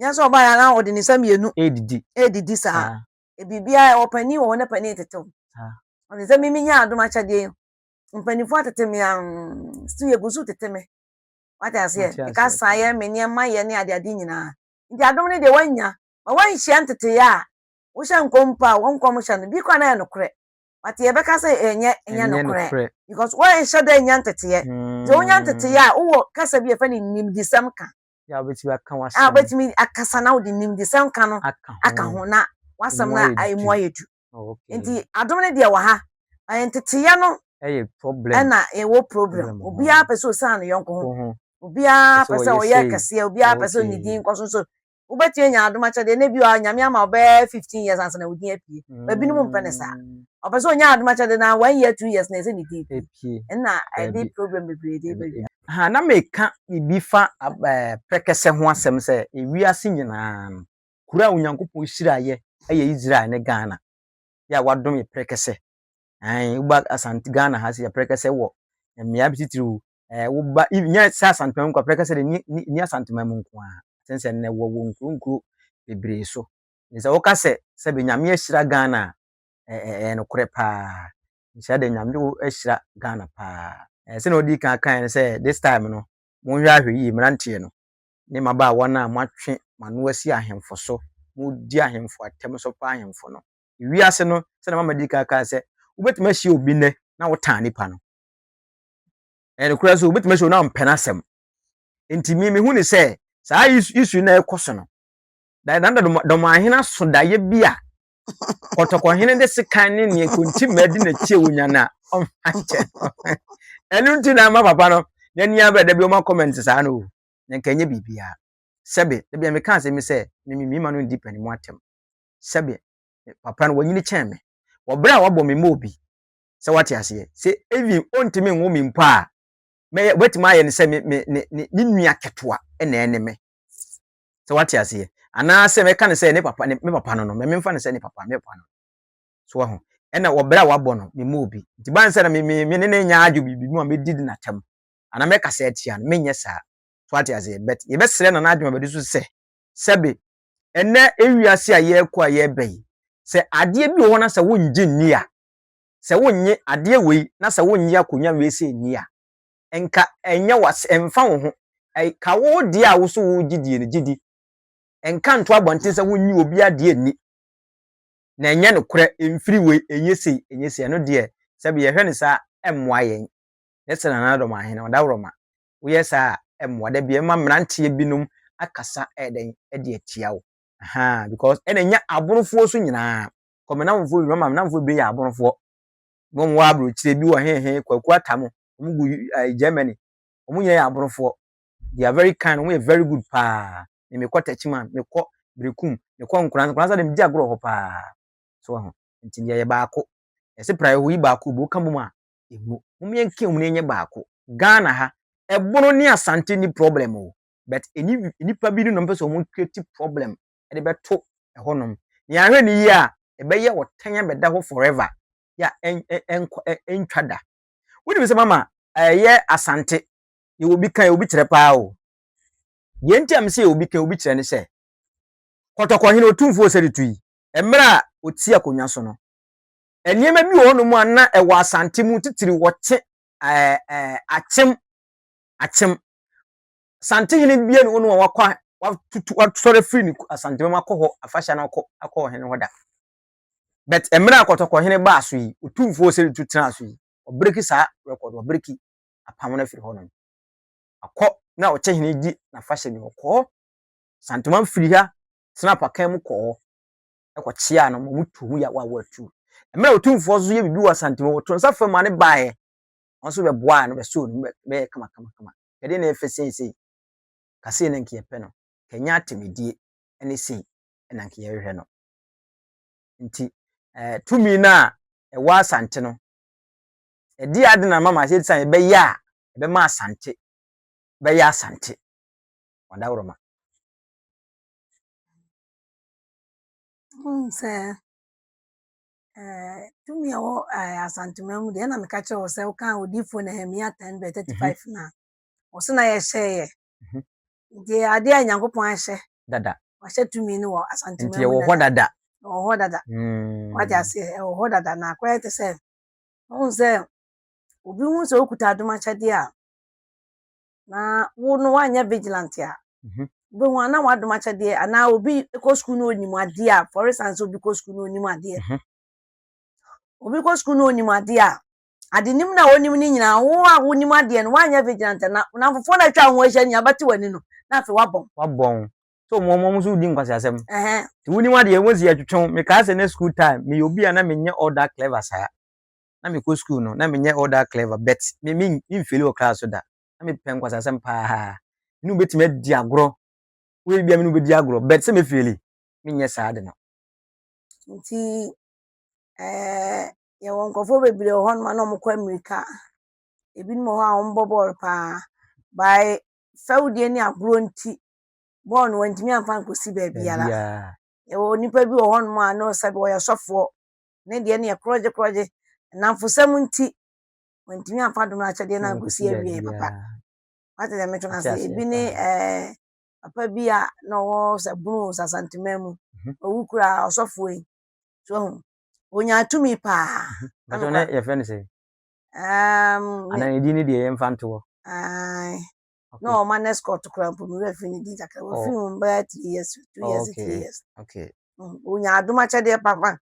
Nyɛ sɛ ɔbaa yɛ na ɔde ne nsa mmienu. Ɛredidi. Ɛredidi saa. Ah. E biribiara ɛwɔ panin wɔ hɔ na panin tete wo. Ah. Ɔde sɛ mimi nya adom akyɛdeɛ yi. Mpanimfoɔ atete me an still yɛgu so tete me. Wate aseɛ. Ɛka saa yɛ me nneɛma yɛ ne adeade nyinaa. Nti adom no deɛ woanya. Ma woanhyia nteteyɛ a wohyɛ nkɔm mpo a, wo nkɔmhyɛ no, bi koraa na ɛyɛ nokorɛ, but yɛbɛka sɛ ɛnyɛ ɛnyɛ nokorɛ because woanhyɛ da nya nteteeɛ. Nti sɛ wonya nteteeɛ a, wowɔ kasa bi a yɛfrɛ no nimdesɛm ka. Yeah, wobɛtumi aka w'asɛm. Ah, wobɛtumi akasa na wode nimdesɛm ka no aka ho na w'asɛm no emu ayɛ du. Oh, Nti adom no deɛ wɔ ha, ɛyɛ nteteeɛ no ɛyɛ problem ɛna ɛwɔ problem. Obiara pɛ sɛ ɔsan ne yɔnko ho. Obiara pɛ sɛ ɔyɛ kɛseɛ, obiara pɛ sɛ ɔnni din nkɔ so nso wobɛtumi anya adom akyɛdeɛ na ebi wɔ hɔ nyame ama ɔbɛyɛ fifteen years ansa na wo din apue ba binom mpɛ ne saa ɔpɛ sɛ ɔnya adom akyɛdeɛ na one year two years na ɛsɛ ne din pue ɛna ɛde problem bebree de bɛwia ha na meka biribi fa prɛkɛsɛ ho asɛm sɛ ewiase nyinaa no kuro a onyankopɔn hyiraeɛ ɛyɛ Israel ne Ghana yɛ a wadom yɛ prɛkɛsɛ ɛn woba Asante Ghana ha sɛ yɛ prɛkɛsɛ wɔ mmea bi titiriw eh, woba nyɛ sɛ asantoma mu kwaprɛ kɛsɛ de ni asantoma mu nko a sɛn sɛ nnɛ wɔwɔ nkuro nkuro bebree so ne sɛ woka sɛ sɛ bɛ nyame ahyira ghana a eh, eh, ɛyɛ nokorɛ paa nhyira de nyame ahyira ghana paa eh, sɛnea ɔdi kan kan no sɛ this time no monhwɛ ahwɛ yie mmeranteɛ no ne mmabaawa no a moatwe mano asi ahemfo so modi ahemfo atɛm so pa ahemfo no wiase no sɛnea mama di kan kan sɛ wobɛtumi ahyia obi nnɛ na wotaa nipa no ɛyɛ nokorɛ so wobɛtumi sɛ na ɔmpɛ n'asɛm nti me mehu ne sɛ saa isu na ɛkɔ so no na na dɔmahene so daeɛ bi a kɔtɔkɔhene de sekan ne neɛ kontimma di n'akyi a wɔnya no a ɔmfakyɛ no ɛno nti na ama papa no n'ani abɛ da bi ɔma comment saa no o na nka ɛnyɛ biribiaa sɛbe da bia meka asɛm sɛ mememima no ndi pani mu atɛm sɛbe papa no wanyini kyɛn me wɔberɛ a wabɔ me mmɔ obi sɛ wate aseɛ. Sɛ even ɔntumi nwo me mpo a, mɛyɛ, ɔbɛtumi ayɛ no sɛ me, me, ne, ne, ne nua ketewa na ɛne me. Sɛ wate aseɛ. Anaasɛ mɛka no sɛ ne papa, ne, me papa no no, memfa no sɛ ne papa, me papa no. So wahu. Ɛna wɔ berɛ a wabɔ no, me mmɔɔ bi. Nti ban sɛ na me, me, me ne no nyɛ adwo biribi mu a, mɛdi no n'atam. Anaa mɛkasa atia no, menyɛ saa. So wate aseɛ. But yɛbɛsrɛ Nana Adwuma Badu so sɛ, sɛbe, ɛnnɛ ewiase a yɛrekɔ a yɛreba yi, sɛ adeɛ bi wɔ hɔ na sɛ wongye nni a, Sɛ wonnye adeɛ wei na sɛ wonnye akonwa wei sɛ nni a, nka ɛnyɛ w'ase, ɛmfa wo ho. Ka wo deɛ a wo so wogye die no gye di. Nka nto abɔnten sɛ wonnye obiara deɛ nni. Na ɛnyɛ nokorɛ, ɛmfiri wei, ɛnyɛ sei, ɛnyɛ sei. Ɛno deɛ, sɛ bi yɛhwɛ no saa a, ɛmmoa yɛn. Nyɛ sɛ Nana Adom Ahene, Ɔdawuroma. Woyɛ saa a, ɛmmoa. Da biara ɛma mmeranteɛ binom akasa ɛyɛ dɛn, de atia wo. Ahaa, because ɛna ɛnya aborofoɔ so nyinaa. kɔ me namfo nnwuma ma me namfo bebree yɛ aborofoɔ na wɔn wɔ aburokyire bi wɔ hehe kwaku atam wɔn gu ɛɛ germany wɔn nyinaa yɛ aborofoɔ they are very kind wɔn yɛ very good paa na mekɔ tɛkyiman mekɔ berekum mekɔ nkoransa nkoransa de megye agorɔ hɔ paa so ɛho nti deɛ yɛ baako ɛsɛ pra ɛho yi baako bo ka bom a emu wɔn yɛn nka wɔn yɛnyɛ baako ghana ha ɛbono ne asante ni problem o but ɛni nipa bi ne na wɔn pɛ sɛ wɔn create problem de bɛto hɔ nom. Nea ahwɛ no yie a, ɛbɛyɛ ɔtan abɛda hɔ forever. Ya ɛn ɛn ɛntwa da. Wonim sɛ mama ɛyɛ asante. Yɛwɔ obi kan, yɛwɔ obi kyerɛ paa o. Deɛ nti a mesɛ yɛwɔ obi kan, obi kyerɛ ne sɛ, kɔtɔkɔhene otumfoɔ Oseritu yi, mmerɛ a ɔte akonnwa so no, nneɛma bi wɔ hɔ nom a na ɛwɔ asante mu titiriw wɔkye ɛɛ ɛɛ akyem akyem Asantehene bia ne hɔ no a wakɔ watutu wasɔre afiri ne Asantehene mu akɔ hɔ afahyɛ no akɔ akɔ ɔhene hɔ da but mmerɛ a kɔtɔkɔhene baa so yi otumfoɔ ɔsɛre tu tenaa so yi ɔbreki saa record ɔbreki apam no afiri hɔ nom akɔ na ɔkyɛ hene di n'afahyɛ bi hɔ kɔɔ Asantehene firi ha tena pakan mu kɔɔ ɛkɔkyeaa no ma ɔmo tuo mu yɛ awa awa tu mmerɛ otumfoɔ nso yɛ biribi wɔ Asantehene wɔto nsa fam ma ne baeɛ wɔn nso bɛboaa no bɛsoo no bɛyɛ kama kama kama Yɛde no refa seesei. Ka sei na nka yɛpɛ no. Ka ɛnyɛ atemedie ne sei na nka yɛhwehwɛ no. Nti eh, tumi no a ɛwɔ Asante no, ɛdeɛ ade na mama sɛ sane ɛbɛyɛ a, ɛbɛma Asante bɛyɛ Asante. Wadaworoma. Wohu sɛ tumi a ɛwɔ asantuma mu deɛ ɛna meka kyerɛ wo sɛ woka odiifoɔ nehemia 10 bɛ 35 no a ɔse na yɛhyɛeɛ nti adeɛ a nyankopɔn ahyɛ dada wahyɛ tumi no wɔ asantuma mu nti ɛwɔ hɔ dada ɛwɔ hɔ dada wagye aseɛ ɛwɔ hɔ dada na akɔyɛ te sɛ wohu sɛ obi hu sɛ wokuta adomakyɛdeɛ a na wo no woanyɛ vigilant a, mhm. wobɛhu ana wadom akyɛdeɛ anaa obi kɔ sukuu no ɔnim adeɛ a for instance obi kɔ sukuu no ɔnim adeɛ mhm. obi kɔ sukuu no ɔnim adeɛ a ade nim na wɔnim no nyinaa wo a wonim adeɛ no woanyɛ vigilant na na fofoɔ no atwa ho ahyia nyinaa bɛte w'ani no na afei wabɔn wabɔn so mo mo nso wodi nkwaseasɛm nti wonim adeɛ wɔsi atwetwe mekaa sɛ na school time meyɛ obi a na menyɛ all that clever saa na mekɔ sukuu no, na menyɛ all that clever, but me me mfeeli wɔ class so da. Na mepɛ nkwasasɛm paa. Me ne wobɛtumi adi agorɔ. Woyɛ bia me ne wobɛdi agorɔ, but sɛ mefeeli, menyɛ saa ade no. Nti eh, yɛwɔ nkurɔfoɔ bebree wɔ hɔnom a na wɔkɔ mmirika. Ebinom wɔ hɔ a wɔbɔ bɔɔl paa. By fɛwdie ne agorɔ nti, bɔɔl no wɔntumi amfa ankɔsi baabiara. Baabiara. Yɛwɔ nnipa bi wɔ hɔnom a na sɛbi wɔyɛ sɔfoɔ, ne deɛ no yɛ korɔgye korɔgye nnamfosɛm nti wantumi amfa dom no akyɛdeɛ no ankɔsi awieɛ papa wate deɛ metwe no ase ebi ne eh, papa bi a na ɔwɔ sɛ bunu sasantema mu mhm. ɔwu kura ɔsɔfoɔ yi so ho ɔnyaa tumi paa ɛtɔ ne yɛfrɛ no sɛ anaa ne din no deɛ yɛmfa ntoɔ na ɔwɔ ma no escort koraa mpo me werɛ firi ne din kakra wafiri mu bɛyɛ three years two years three years wonya adom akyɛdeɛ papa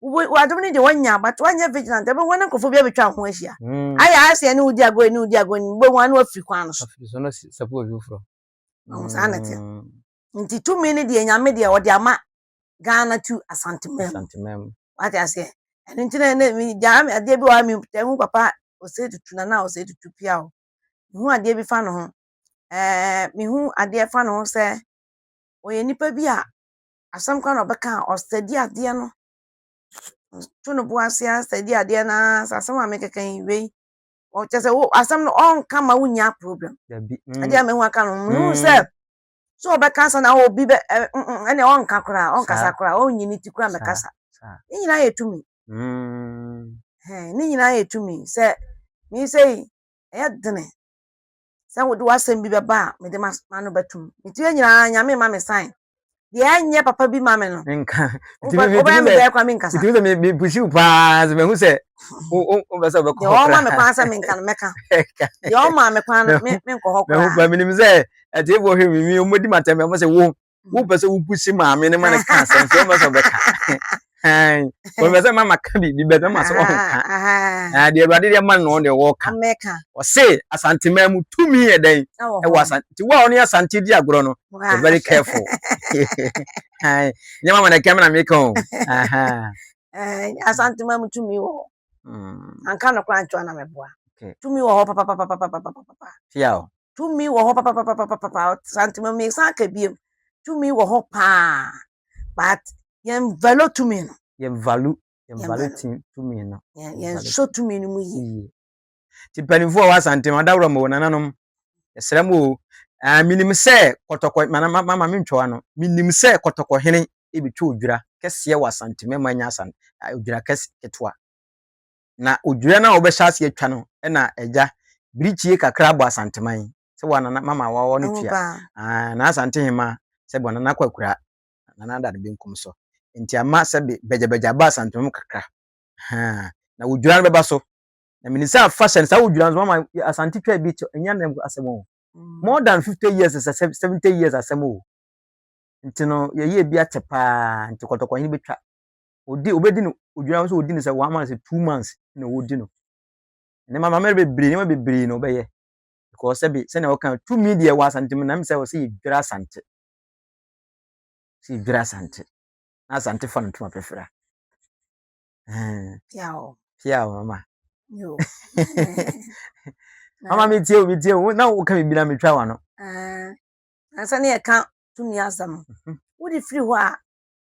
wadom no deɛ wanya but wanyɛ vigilant ɛbɛhu ne nkurɔfoɔ bi abɛtwa ho ahyia ayɛ ayɛ sɛ ɛne wodi agorɔ ɛne wodi agorɔ ne wobɛhu ano afiri kwan no so saa na teɛ nti tumi no deɛ nyame deɛ ɔde ama ghana tu asantemam wate aseɛ ɛno nti na gyaa adeɛ bi wɔ ha mehu papa ɔsɛ tutu na na ɔsɛ tutu pia o Mehu adeɛ bi fa ne ho. Ɛɛ mehu adeɛ fa ne ho sɛ ɔyɛ nipa bi a asɛm koraa na ɔbɛka a ɔstudy adeɛ no. Ɔto ne bo ase ara study adeɛ no ara sɛ asɛm a merekeka yi wei. Ɔ kyerɛ sɛ wo asɛm no ɔnka ma wonnya problem. Dabi. Mm. Adeɛ a mehu aka no mehu sɛ mm. sɛ ɔbɛka asa na obi bɛ ɛ ɛnna ɔnka koraa ɔnkasa koraa ɔnyi ne ti koraa mɛkasa. Ne nyinaa yɛ tumi. Hmm. Hey, ne nyinaa yɛ tumi sɛ me sɛ yi ɛyɛ dene sɛ wode w'asɛm bi bɛba a mede m'ano bɛtom metumi nyinaa nyame ma me san deɛ ɛnyɛ papa bi ma me no nka wobɛyɛ me dɛɛ kwa menkasa tumi sɛ mepusi wo paa sɛ mahu sɛ wobɛ sɛ wobɛkɔ hɔ kora ɔma me kwan sɛ menka no mɛka deɛ ɔma me kwan no menkɔ hɔ kora mehu pa menim sɛ atiefoɔ hwɛ me mi ɔmɔdi matɛmɛ ɔmɔ sɛ wo wopɛ sɛ wobu si maame no ma no ka asɛm sɛ wopɛ sɛ ɔbɛka wɔpɛ sɛ mama ka biribi bɛsɛ ma sɛ ɔnka na deɛ awurade deɛ ma no deɛ wɔka ɔse asantemaa mu tumi yɛ dɛn ɛwɔ asante nti wo a ɔne asante di agorɔ no be very careful nyɛ mama na ɛkɛm na meka o asantemaa mu tumi wɔ hɔ anka no koraa nkyɛw na mɛboa tumi wɔ hɔ papapapapapapapa Tumi wɔ hɔ papapapapapa. Santi ma mi san ka biem. Tumi wɔ hɔ paa. But yɛn valo tumi no. Yɛn valo yɛn valo tumi no. Yɛn nso tumi no mu yie. Ti mpanimfoɔ wɔ Asante ma dawuro mo nananom. Ɛsrɛ mo o. Ah, menim sɛ kɔtɔkɔ mana mama mentwɔwa no. Menim sɛ kɔtɔkɔ hene ebetwa odwira kɛseɛ wɔ Asante mɛma anya asan odwira kɛse ketewa. Na odwira no a wɔbɛhyɛ ase atwa no na agya birikyie kakra bɔ asanteman sɛ wɔ anana mama wɔwɔ no tua na asante hema sɛ bɔ anana kwakura nana ada no benkum so nti ama sɛ be bɛgyabɛgya aba asanteman mu kakra na odwira no bɛba so na menim sɛ afa hyɛ no saa odwira no mama asante twa bi ɛnyɛ nam asɛm o mm. more than 50 years sɛ 70 years asɛm o nti no yɛyɛ bi atɛ paa nti kɔtɔkɔhene bɛtwa ɔdi ɔbɛdi no ɔdwira nso ɔdi no sɛ one month two months na ɔdi no ne ma mamɛrɛ bebree nneɛma bebree na ɔbɛyɛ because sɛbi sɛnea ɔka tumi deɛ wɔ asante mu nam sɛ ɔsɛ yɛdwira asante sɛ yɛdwira asante na asante fa no ntoma pɛfira pia o mama mama metie o metie o na woka biribi na metwa wano ansa ne yɛka tumi asɛm mhm. wode firi hɔ a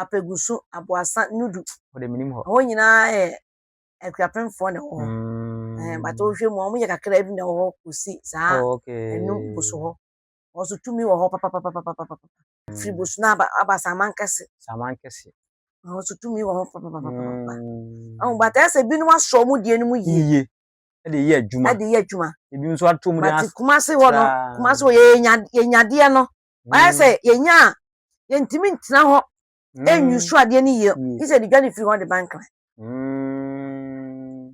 Apegusu, Aboassa, Nudu. Wɔde menim hɔ. Ɛhɔ nyinaa yɛ akuapemfoɔ na ɛwɔ hɔ. Mm. But wohwɛ mu a, wɔyɛ kakra bi na ɛwɔ hɔ kɔsi saa oh, ɛnum boso hɔ. Wɔso tumi wɔ hɔ papapapapapapa. Mm. Firi boso no aba, aba Saman kɛse. Saman kɛse. Wɔso tumi wɔ hɔ papapapapapa. Ɛho mm. bata ɛsɛ binom asɔ wɔn deɛ no mu yie. Yie. Ɛde yɛ adwuma. Ɛde yɛ adwuma. Ebi nso ato mu de as. Bati kumase hɔ no, kumase hɔ yɛ yɛnyadeɛ no. Ayɛ sɛ mm. yɛnya a yɛntumi ntena hɔ ɛnwi mm. so adeɛ no yie mm. gye sɛ de dwa no firi hɔ de ba nkran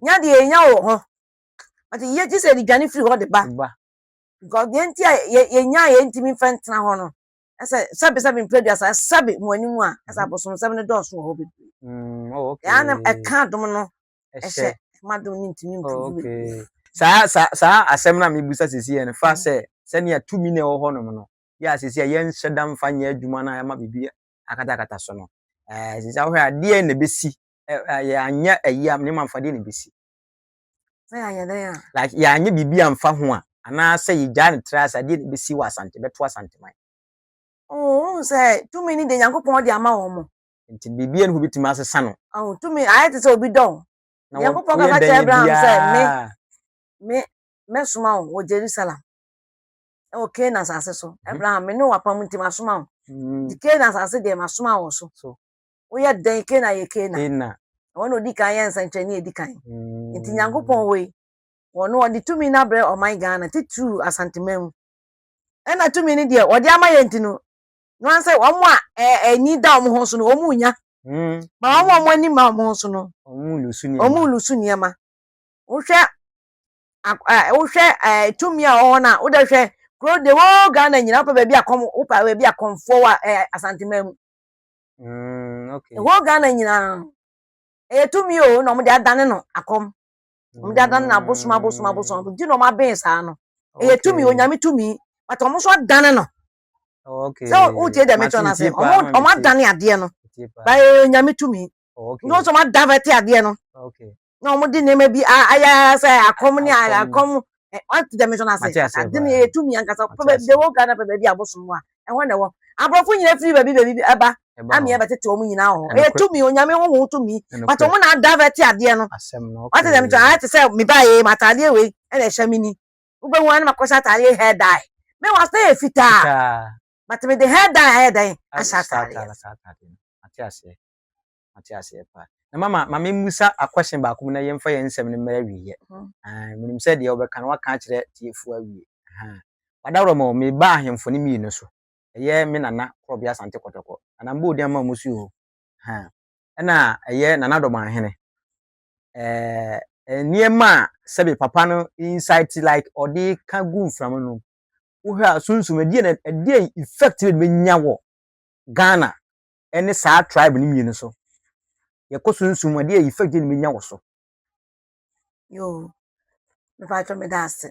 nya deɛ yɛnya wɔ hɔ ate yie gye sɛ de dwa no firi hɔ de ba because deɛ nti a yɛnya a yɛntumi mfa ntena hɔ no ɛsɛ sɛbesɛbe mprɛ duasa ɛsɛbe mu anim a ɛsɛ abosomsɛm no dɔɔso wɔ hɔ bebree ɛa na ɛka adom no ɛhyɛ ma do no ntumi mpu oh, okay saa saa saa asɛm na mebusa sisi yɛ no fa sɛ sɛnea tumi na ɛwɔ hɔnom no yɛ a sisi yɛ yɛnhyɛ da mfa nyɛ adwuma no a ɛma biribi akatakata so no ɛɛ sisi ahohɛ adeɛ na ebesi ɛɛ yɛanyɛ ɛyi a nneɛma nfa deɛ na ebesi. sɛ yɛanyɛ dɛ a. like yɛanyɛ biribi anfa ho a anaasɛ yɛgyaa ne tra ase adeɛ na ebesi wɔ asante bɛto asanteman. oo oh, sɛ tumi ni de nyankopɔn de ama wɔn mo. Nti biribi ani hɔ bɛtumi asesa no. Ahu tumi ayɛ te sɛ obi dɔ wo. Nyankopɔn kasa kyerɛ Abraham sɛ me, me, mɛsoma wo wɔ Jerusalem ɛwɔ Canaan asase so. Mhm. Abraham, me ne wo apam nti masoma wo. Mhm. Nti Canaan asase deɛ masoma wo so. Woyɛ dɛn Canaan yɛ Canaan. Wɔn na odi kan yɛ nsɛnkyerɛnne edi kan. Mhm. Nti Nyankopɔn wɔ yi, wɔn wɔde tumi no abrɛ ɔman Ghana titiriw Asanteman mu. Ɛna tumi no deɛ wɔde ama yɛn nti no, Wɔn sɛ wɔn a ani da wɔn ho so no, wɔn renya. Ma wɔn a wɔn ani ma wɔn ho so no, wɔn lusu nneɛma. Wohwɛ wohwɛ tumi a wɔwɔ no a, wodɛ hwɛ kuro de wɔ Ghana nyina wopɛ baabi a kɔm wopɛ baabi a kɔmfoɔ wɔ Asanteman mu. Ɛwɔ mm, Ghana nyinaa ɛyɛ tumi o na wɔde adane no akɔm. Wɔde adane no abosom abosom abosom nti na wɔabɛn saa no. Ɛyɛ tumi onyame tumi but wɔn nso adane no Oh, okay. So who did the matron as him? Omo omo adane adeɛ no. Ba eh nyame tumi. Oh, okay. No so omo adavete adeɛ no. Oh, okay. Na omo di nneɛma bi aya sɛ akɔm ne akɔm. Eh, what did the matron as him? Adane eh tumi ankasa. Pebe de wo Ghana pebe bi abosom wa. Ɛhɔ na ɛwɔ. Abrɔfo nyina firi baabi baabi ɛba. Ami ɛbɛ tete omo nyina ho. Eh tumi onyame ho ho tumi. But omo na adavete adeɛ no. What did the matron? Ayɛ te sɛ me ba eh matadeɛ wei ɛna ɛhyɛ me ni. wobɛhu a na makɔhyɛ ataadeɛ hair dye me wɔ asɛ yɛ fitaa but mede hair dye ayɛ dɛn ahyɛ ataadeɛ mate aseɛ mate aseɛ paa na mama ma memmusa akɔhyɛn baako mu na yɛmfa yɛn nsɛm no mmara wieɛ mhm. menim sɛ deɛ wobɛka no waka akyerɛ tiefoɔ awie wadaworɔ ma meba ahemfo no mmienu so ɛyɛ me nana korɔbea asante kɔtɔkɔ anambɔɔdi ama mu so o ɛna ɛyɛ nana dɔmɔ ahene eh, nneɛma a sɛbi papa no insight like ɔde ka gu mframa no wohwɛ a sunsum ɛdeɛ na ɛdeɛ effect na ɛbɛnya wɔ ghana ɛne saa tribe no mmienu so yɛkɔ sunsum ɛdeɛ effect na ɛbɛnya wɔ so. yoo mepa atwa me da ase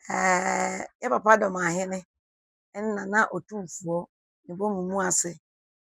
ɛɛ yɛ papa dɔm ahene ɛna na otumfoɔ ne bɔ mu mu ase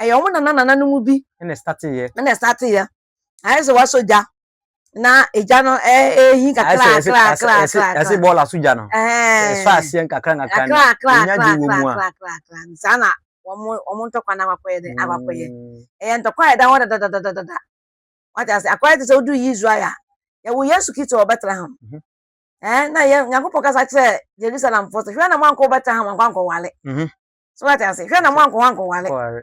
ɛyɛ wɔn nana nana no mu bi. Ɛna ɛstate yɛ. Ɛna ɛstate yɛ. Ayɛ sɛ wasɔ gya na egya no ɛɛhin kakra kakra kakra kakra. Ɛsɛ bɔɔl aso gya no. Ɛsɔ aseɛ nkakra nkakra no. Enya gye wɔ mu a. Saa na wɔn wɔn ntɔkwa na akɔyɛ dɛ akɔyɛ. Ɛyɛ ntɔkwa a ɛda hɔ dadadadadada. Wate ase akɔyɛ te sɛ odu yi Israel a yɛwɔ Yesu Kristo wɔ Bethlehem. Ɛɛ na yɛ Nyankopɔn kasa kyerɛ Jerusalemfoɔ sɛ hwɛ na mo ankɔ Bethlehem ankɔ ankɔwale. So wate ase? Hwɛ na mo ankɔ hɔ ankɔware. Kɔware.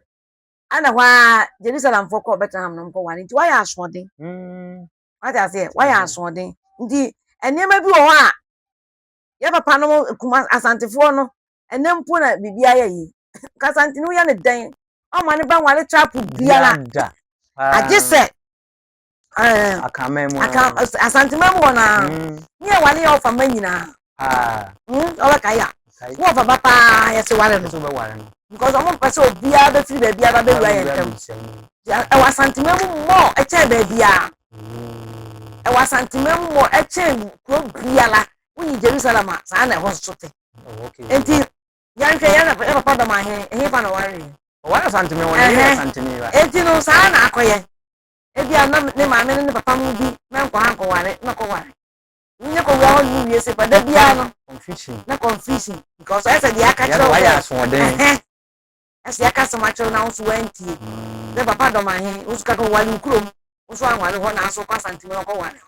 Ɛna hɔ ara Jerusalemfoɔ kɔɔ Bethlehem na wɔkɔware nti wayɛ asoɔden. Mm. Wate aseɛ? Wayɛ Mhm. asoɔden. Nti nneɛma bi wɔ hɔ a yɛ papa no kuma asantefoɔ no ɛnɛ mpo na biribi ayɛ yi. Kasantini woyɛ no dɛn? Ɔmma ne ba nware trapo biara. Yada. Paa. Agye sɛ akanman mu asanteman mu hɔ naa ne yɛ wale yɛ ɔfa mma nyinaa ɔbɛka yɛ a ne ɔfa ba paa yɛse ware no because ɔmo mpɛ sɛ obiara bɛfiri baabi aba bɛwura yɛ ntam ɛwɔ asanteman mu mmɔ ɛkyɛn baabiara ɛwɔ asanteman mu mmɔ ɛkyɛn kuro biara wonyi jerusalem a saa na ɛhɔ so te nti yɛnhwɛ yɛ papa dɔm ahe ɛhefa na ɔware ɔware asanteman wɔ ne yɛ asanteman eti no saa na akɔyɛ Ebia na ne maame ne ne papa mu bi na nkɔ ha nkɔware na ɔkɔware. Wonya kowura hɔ no wie se ba da biara no na confusion because ayɛ sɛ deɛ aka kyerɛ wo sɛ ɛsɛ yɛka asɛm akyerɛ wo na wo nso woantie. Dɛ papa dɔm ahe wo nso ka ka woware wo kurom wo nso anware hɔ nanso wokɔ Asantehene na ɔkɔware hɔ.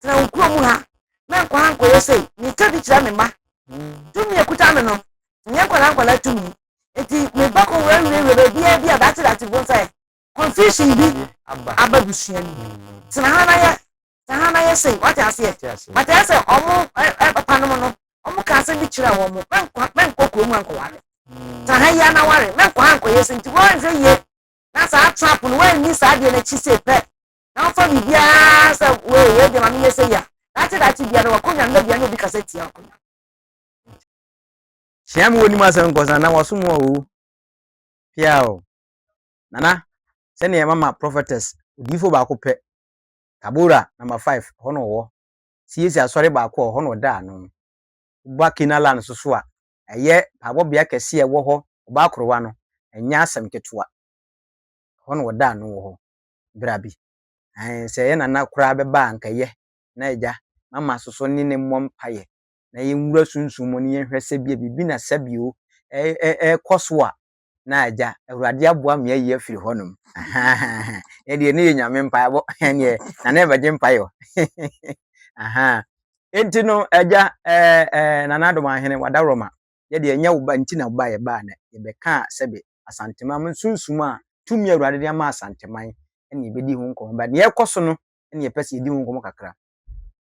tena wo kuro mu ha na nkɔ ha nkɔyɛ sei meka bi kyerɛ me mma tumi ɛkuta me no nyɛ nkwadaa nkwadaa tumi nti meba kɔ wura wura wura baabiara bi a date date bo sɛ confusion bi aba busua mu tena ha na yɛ tena ha na yɛ sei wate aseɛ bata yɛ sɛ ɔmo papa nom no ɔmo ka asɛm bi kyerɛ wɔn mo mɛnkɔ kurom ankɔware tena ha yia na ware mɛnkɔ ha nkɔyɛ sei nti wɔnhwɛ yie na saa trap no wɔanni saa deɛ n'akyi sei pɛ na ɔmfa biribiara sɛ wei wei deɛ ma menyɛ sɛ yi a daakye daakye biara no wakɔnya no na bia na obi kasa tia akɔnya hyia me wɔnim asɛm nkɔsa na wasom wɔ owu pia o nana sɛdeɛ mama prophetess odiifo baako pɛ tabora number five hɔ na ɔwɔ siesie asɔre baako ɔhɔ na ɔda ano woba kena land so so a ɛyɛ paabɔbea kɛse a ɛwɔ hɔ ɔbaa korowa no ɛnyɛ asɛm ketewa hɔ na ɔda ano wɔ hɔ bra bi. Aane, sɛ yɛ nana koraa bɛba a anka ɛyɛ, na Agya, ma ma soso ne ne mmɔ mpaeɛ, na yɛ nwura sunsum mu, na yɛ nhwɛ sɛ bia biribi na sa bio ɛɛkɔ so a, na Agya, Awurade aboa me ayi afiri hɔ nom. Ahaa, ɛnɛ deɛ ne yɛ Nyame mpaebɔ, ɛnneɛ nana ɛbɛgye mpaeɛ o, hehe, ahaa, enti no Agya, ɛɛ, ɛɛ, Nana Adomahene, w'adaworoma, yɛ deɛ ɛnyɛ wo ba nti na wobaeɛ baa na yɛbɛkaa sɛbe Asanteman mo nsunsum a tumi a Awurade de ama Asanteman ɛna yɛbɛdi ho nkɔmmɔ but deɛ ɛrekɔ so no ɛna yɛpɛ sɛ yɛdi ho nkɔmmɔ kakra.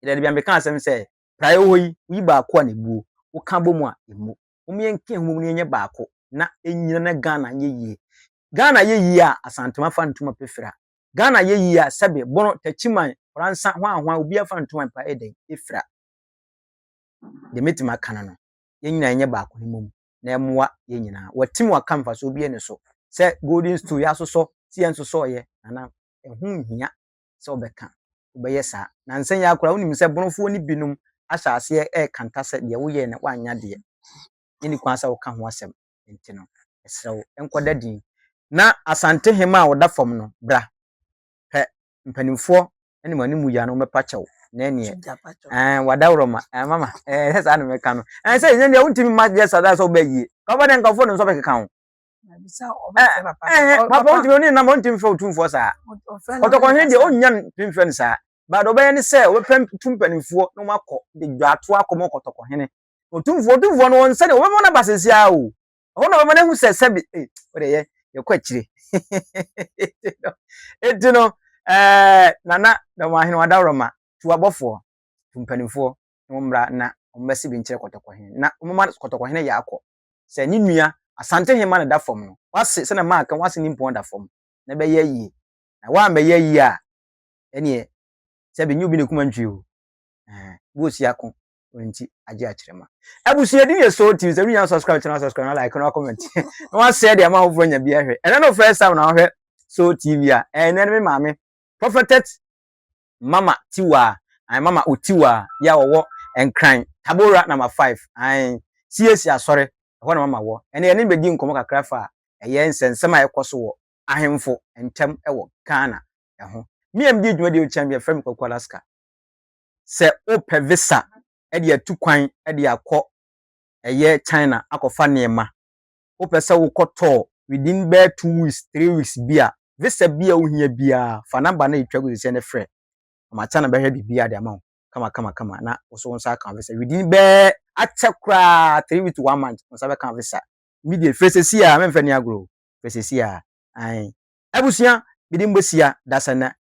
Yɛda adi bia mekaa asɛm sɛ praeɛ wɔ hɔ yi woyi baako a na ɛbuo, woka bɔ mu a ɛmmu. Mom yɛnka yɛn ho bɔ mu na yɛnyɛ baako na ɛnyina na Ghana nyɛ yie. Ghana yɛ yie a Asantema fa ntoma pɛ fira. Ghana yɛ yie a sɛbe Bono, Takyiman, Koransa, hwan hwan obiara fa ntoma pɛ a ɛyɛ dɛn? Ɛfira. Deɛ mɛtumi aka no no. yɛn nyinaa nyɛ baako no mmom na ɛmmoa yɛn nyinaa. Wɔatim wɔaka mfasoɔ bi ani so sɛ golden stool yɛasosɔ sɛ yɛnsosɔeɛ na na ɛho nhia sɛ wobɛka wobɛyɛ saa. Nansa yi ara koraa wonim sɛ bonofoɔ no binom ahyɛ aseɛ rekanta sɛ deɛ woyɛɛ no woannya deɛ yɛnni kwan sɛ woka ho asɛm nti no yɛsrɛ wo nkɔda din na Asante hema a ɔda fam no bra pɛ mpanimfoɔ ne mo anim mu yɛ no wɔbɛpa kyɛw na ɛneɛ ɛn wadaworo ma ɛn mama ɛn sɛ saa na mɛka no ɛn sɛ ɛnyɛ deɛ wontumi ma deɛ saa sɛ wobɛ yie kɔba deɛ nkurɔfoɔ no nso bɛkeka ho papa wontumi ɔne nam wontumi fɛ otumfoɔ saa ɔtɔkɔnhene deɛ ɔnnya ntumi fɛ no saa baade ɔbɛyɛ ne sɛ ɔbɛpɛ tu mpanimfoɔ na wɔakɔ de dwato akɔ mu ɔkɔtɔkɔhene otumfoɔ otumfoɔ no wɔn sɛdeɛ wɔbɛma no aba sɛsi ara o ɛhɔ na ɔbɛma no ahu sɛ sɛbi ee ɔde yɛ yɛkɔ akyire eti no ɛɛ nana dɔm ahene wɔn adaworo ma tu abɔfoɔ tu mpanimfoɔ na wɔn mmra na wɔn bɛsi bi nkyerɛ kɔtɔkɔhene na wɔn ma kɔtɔkɔhene yɛ akɔ sɛ ne nua asante hema na da fam no wase sɛ na maa kan wase ne mpɔn da fam na bɛyɛ yie na wɔn a bɛyɛ yie a ɛneɛ sɛbi nyi obi na ekuma ntwi o ɛɛ bi osi ako nti agye akyerɛ ma abusua di yɛ so ti sɛ wia subscribe channel subscribe na like na comment na wa share de ama afoforo nya bi ahwɛ ɛnɛ no first time na ahwɛ so tv a ɛnɛ no me maame prophetet mama tiwa ai mama otiwa ya wɔwɔ nkran tabora number 5 ai siesie asɔre ɛhɔ na mama wɔ ɛnɛ yɛne bɛdi nkɔmmɔ kakra fa ɛyɛ nsɛnsɛm a ɛkɔ so wɔ ahemfo ntam ɛwɔ ghana ɛho mmea mdi dwuma deɛ ɔkyɛn bi ɛfrɛ me kɔkɔ alaska sɛ wopɛ visa de atu kwan de akɔ ɛyɛ China akɔfa nneɛma, wopɛ sɛ wokɔ tɔɔ within bɛyɛ two weeks, three weeks bi a, visa bi a wohia biara, fa number no a etwa gu sɛsɛ no frɛ. Ama China bɛhwɛ biribiara de ama wo kama kama kama na wo so wo nsa aka visa. Within bɛyɛ akyɛ koraa three weeks to one month, wo nsa bɛka visa. Immediate, frɛ sɛsi a, mɛmfa ni agorɔ o, frɛ sɛsi a, ae. Abusua, me din Bosia Dasanna,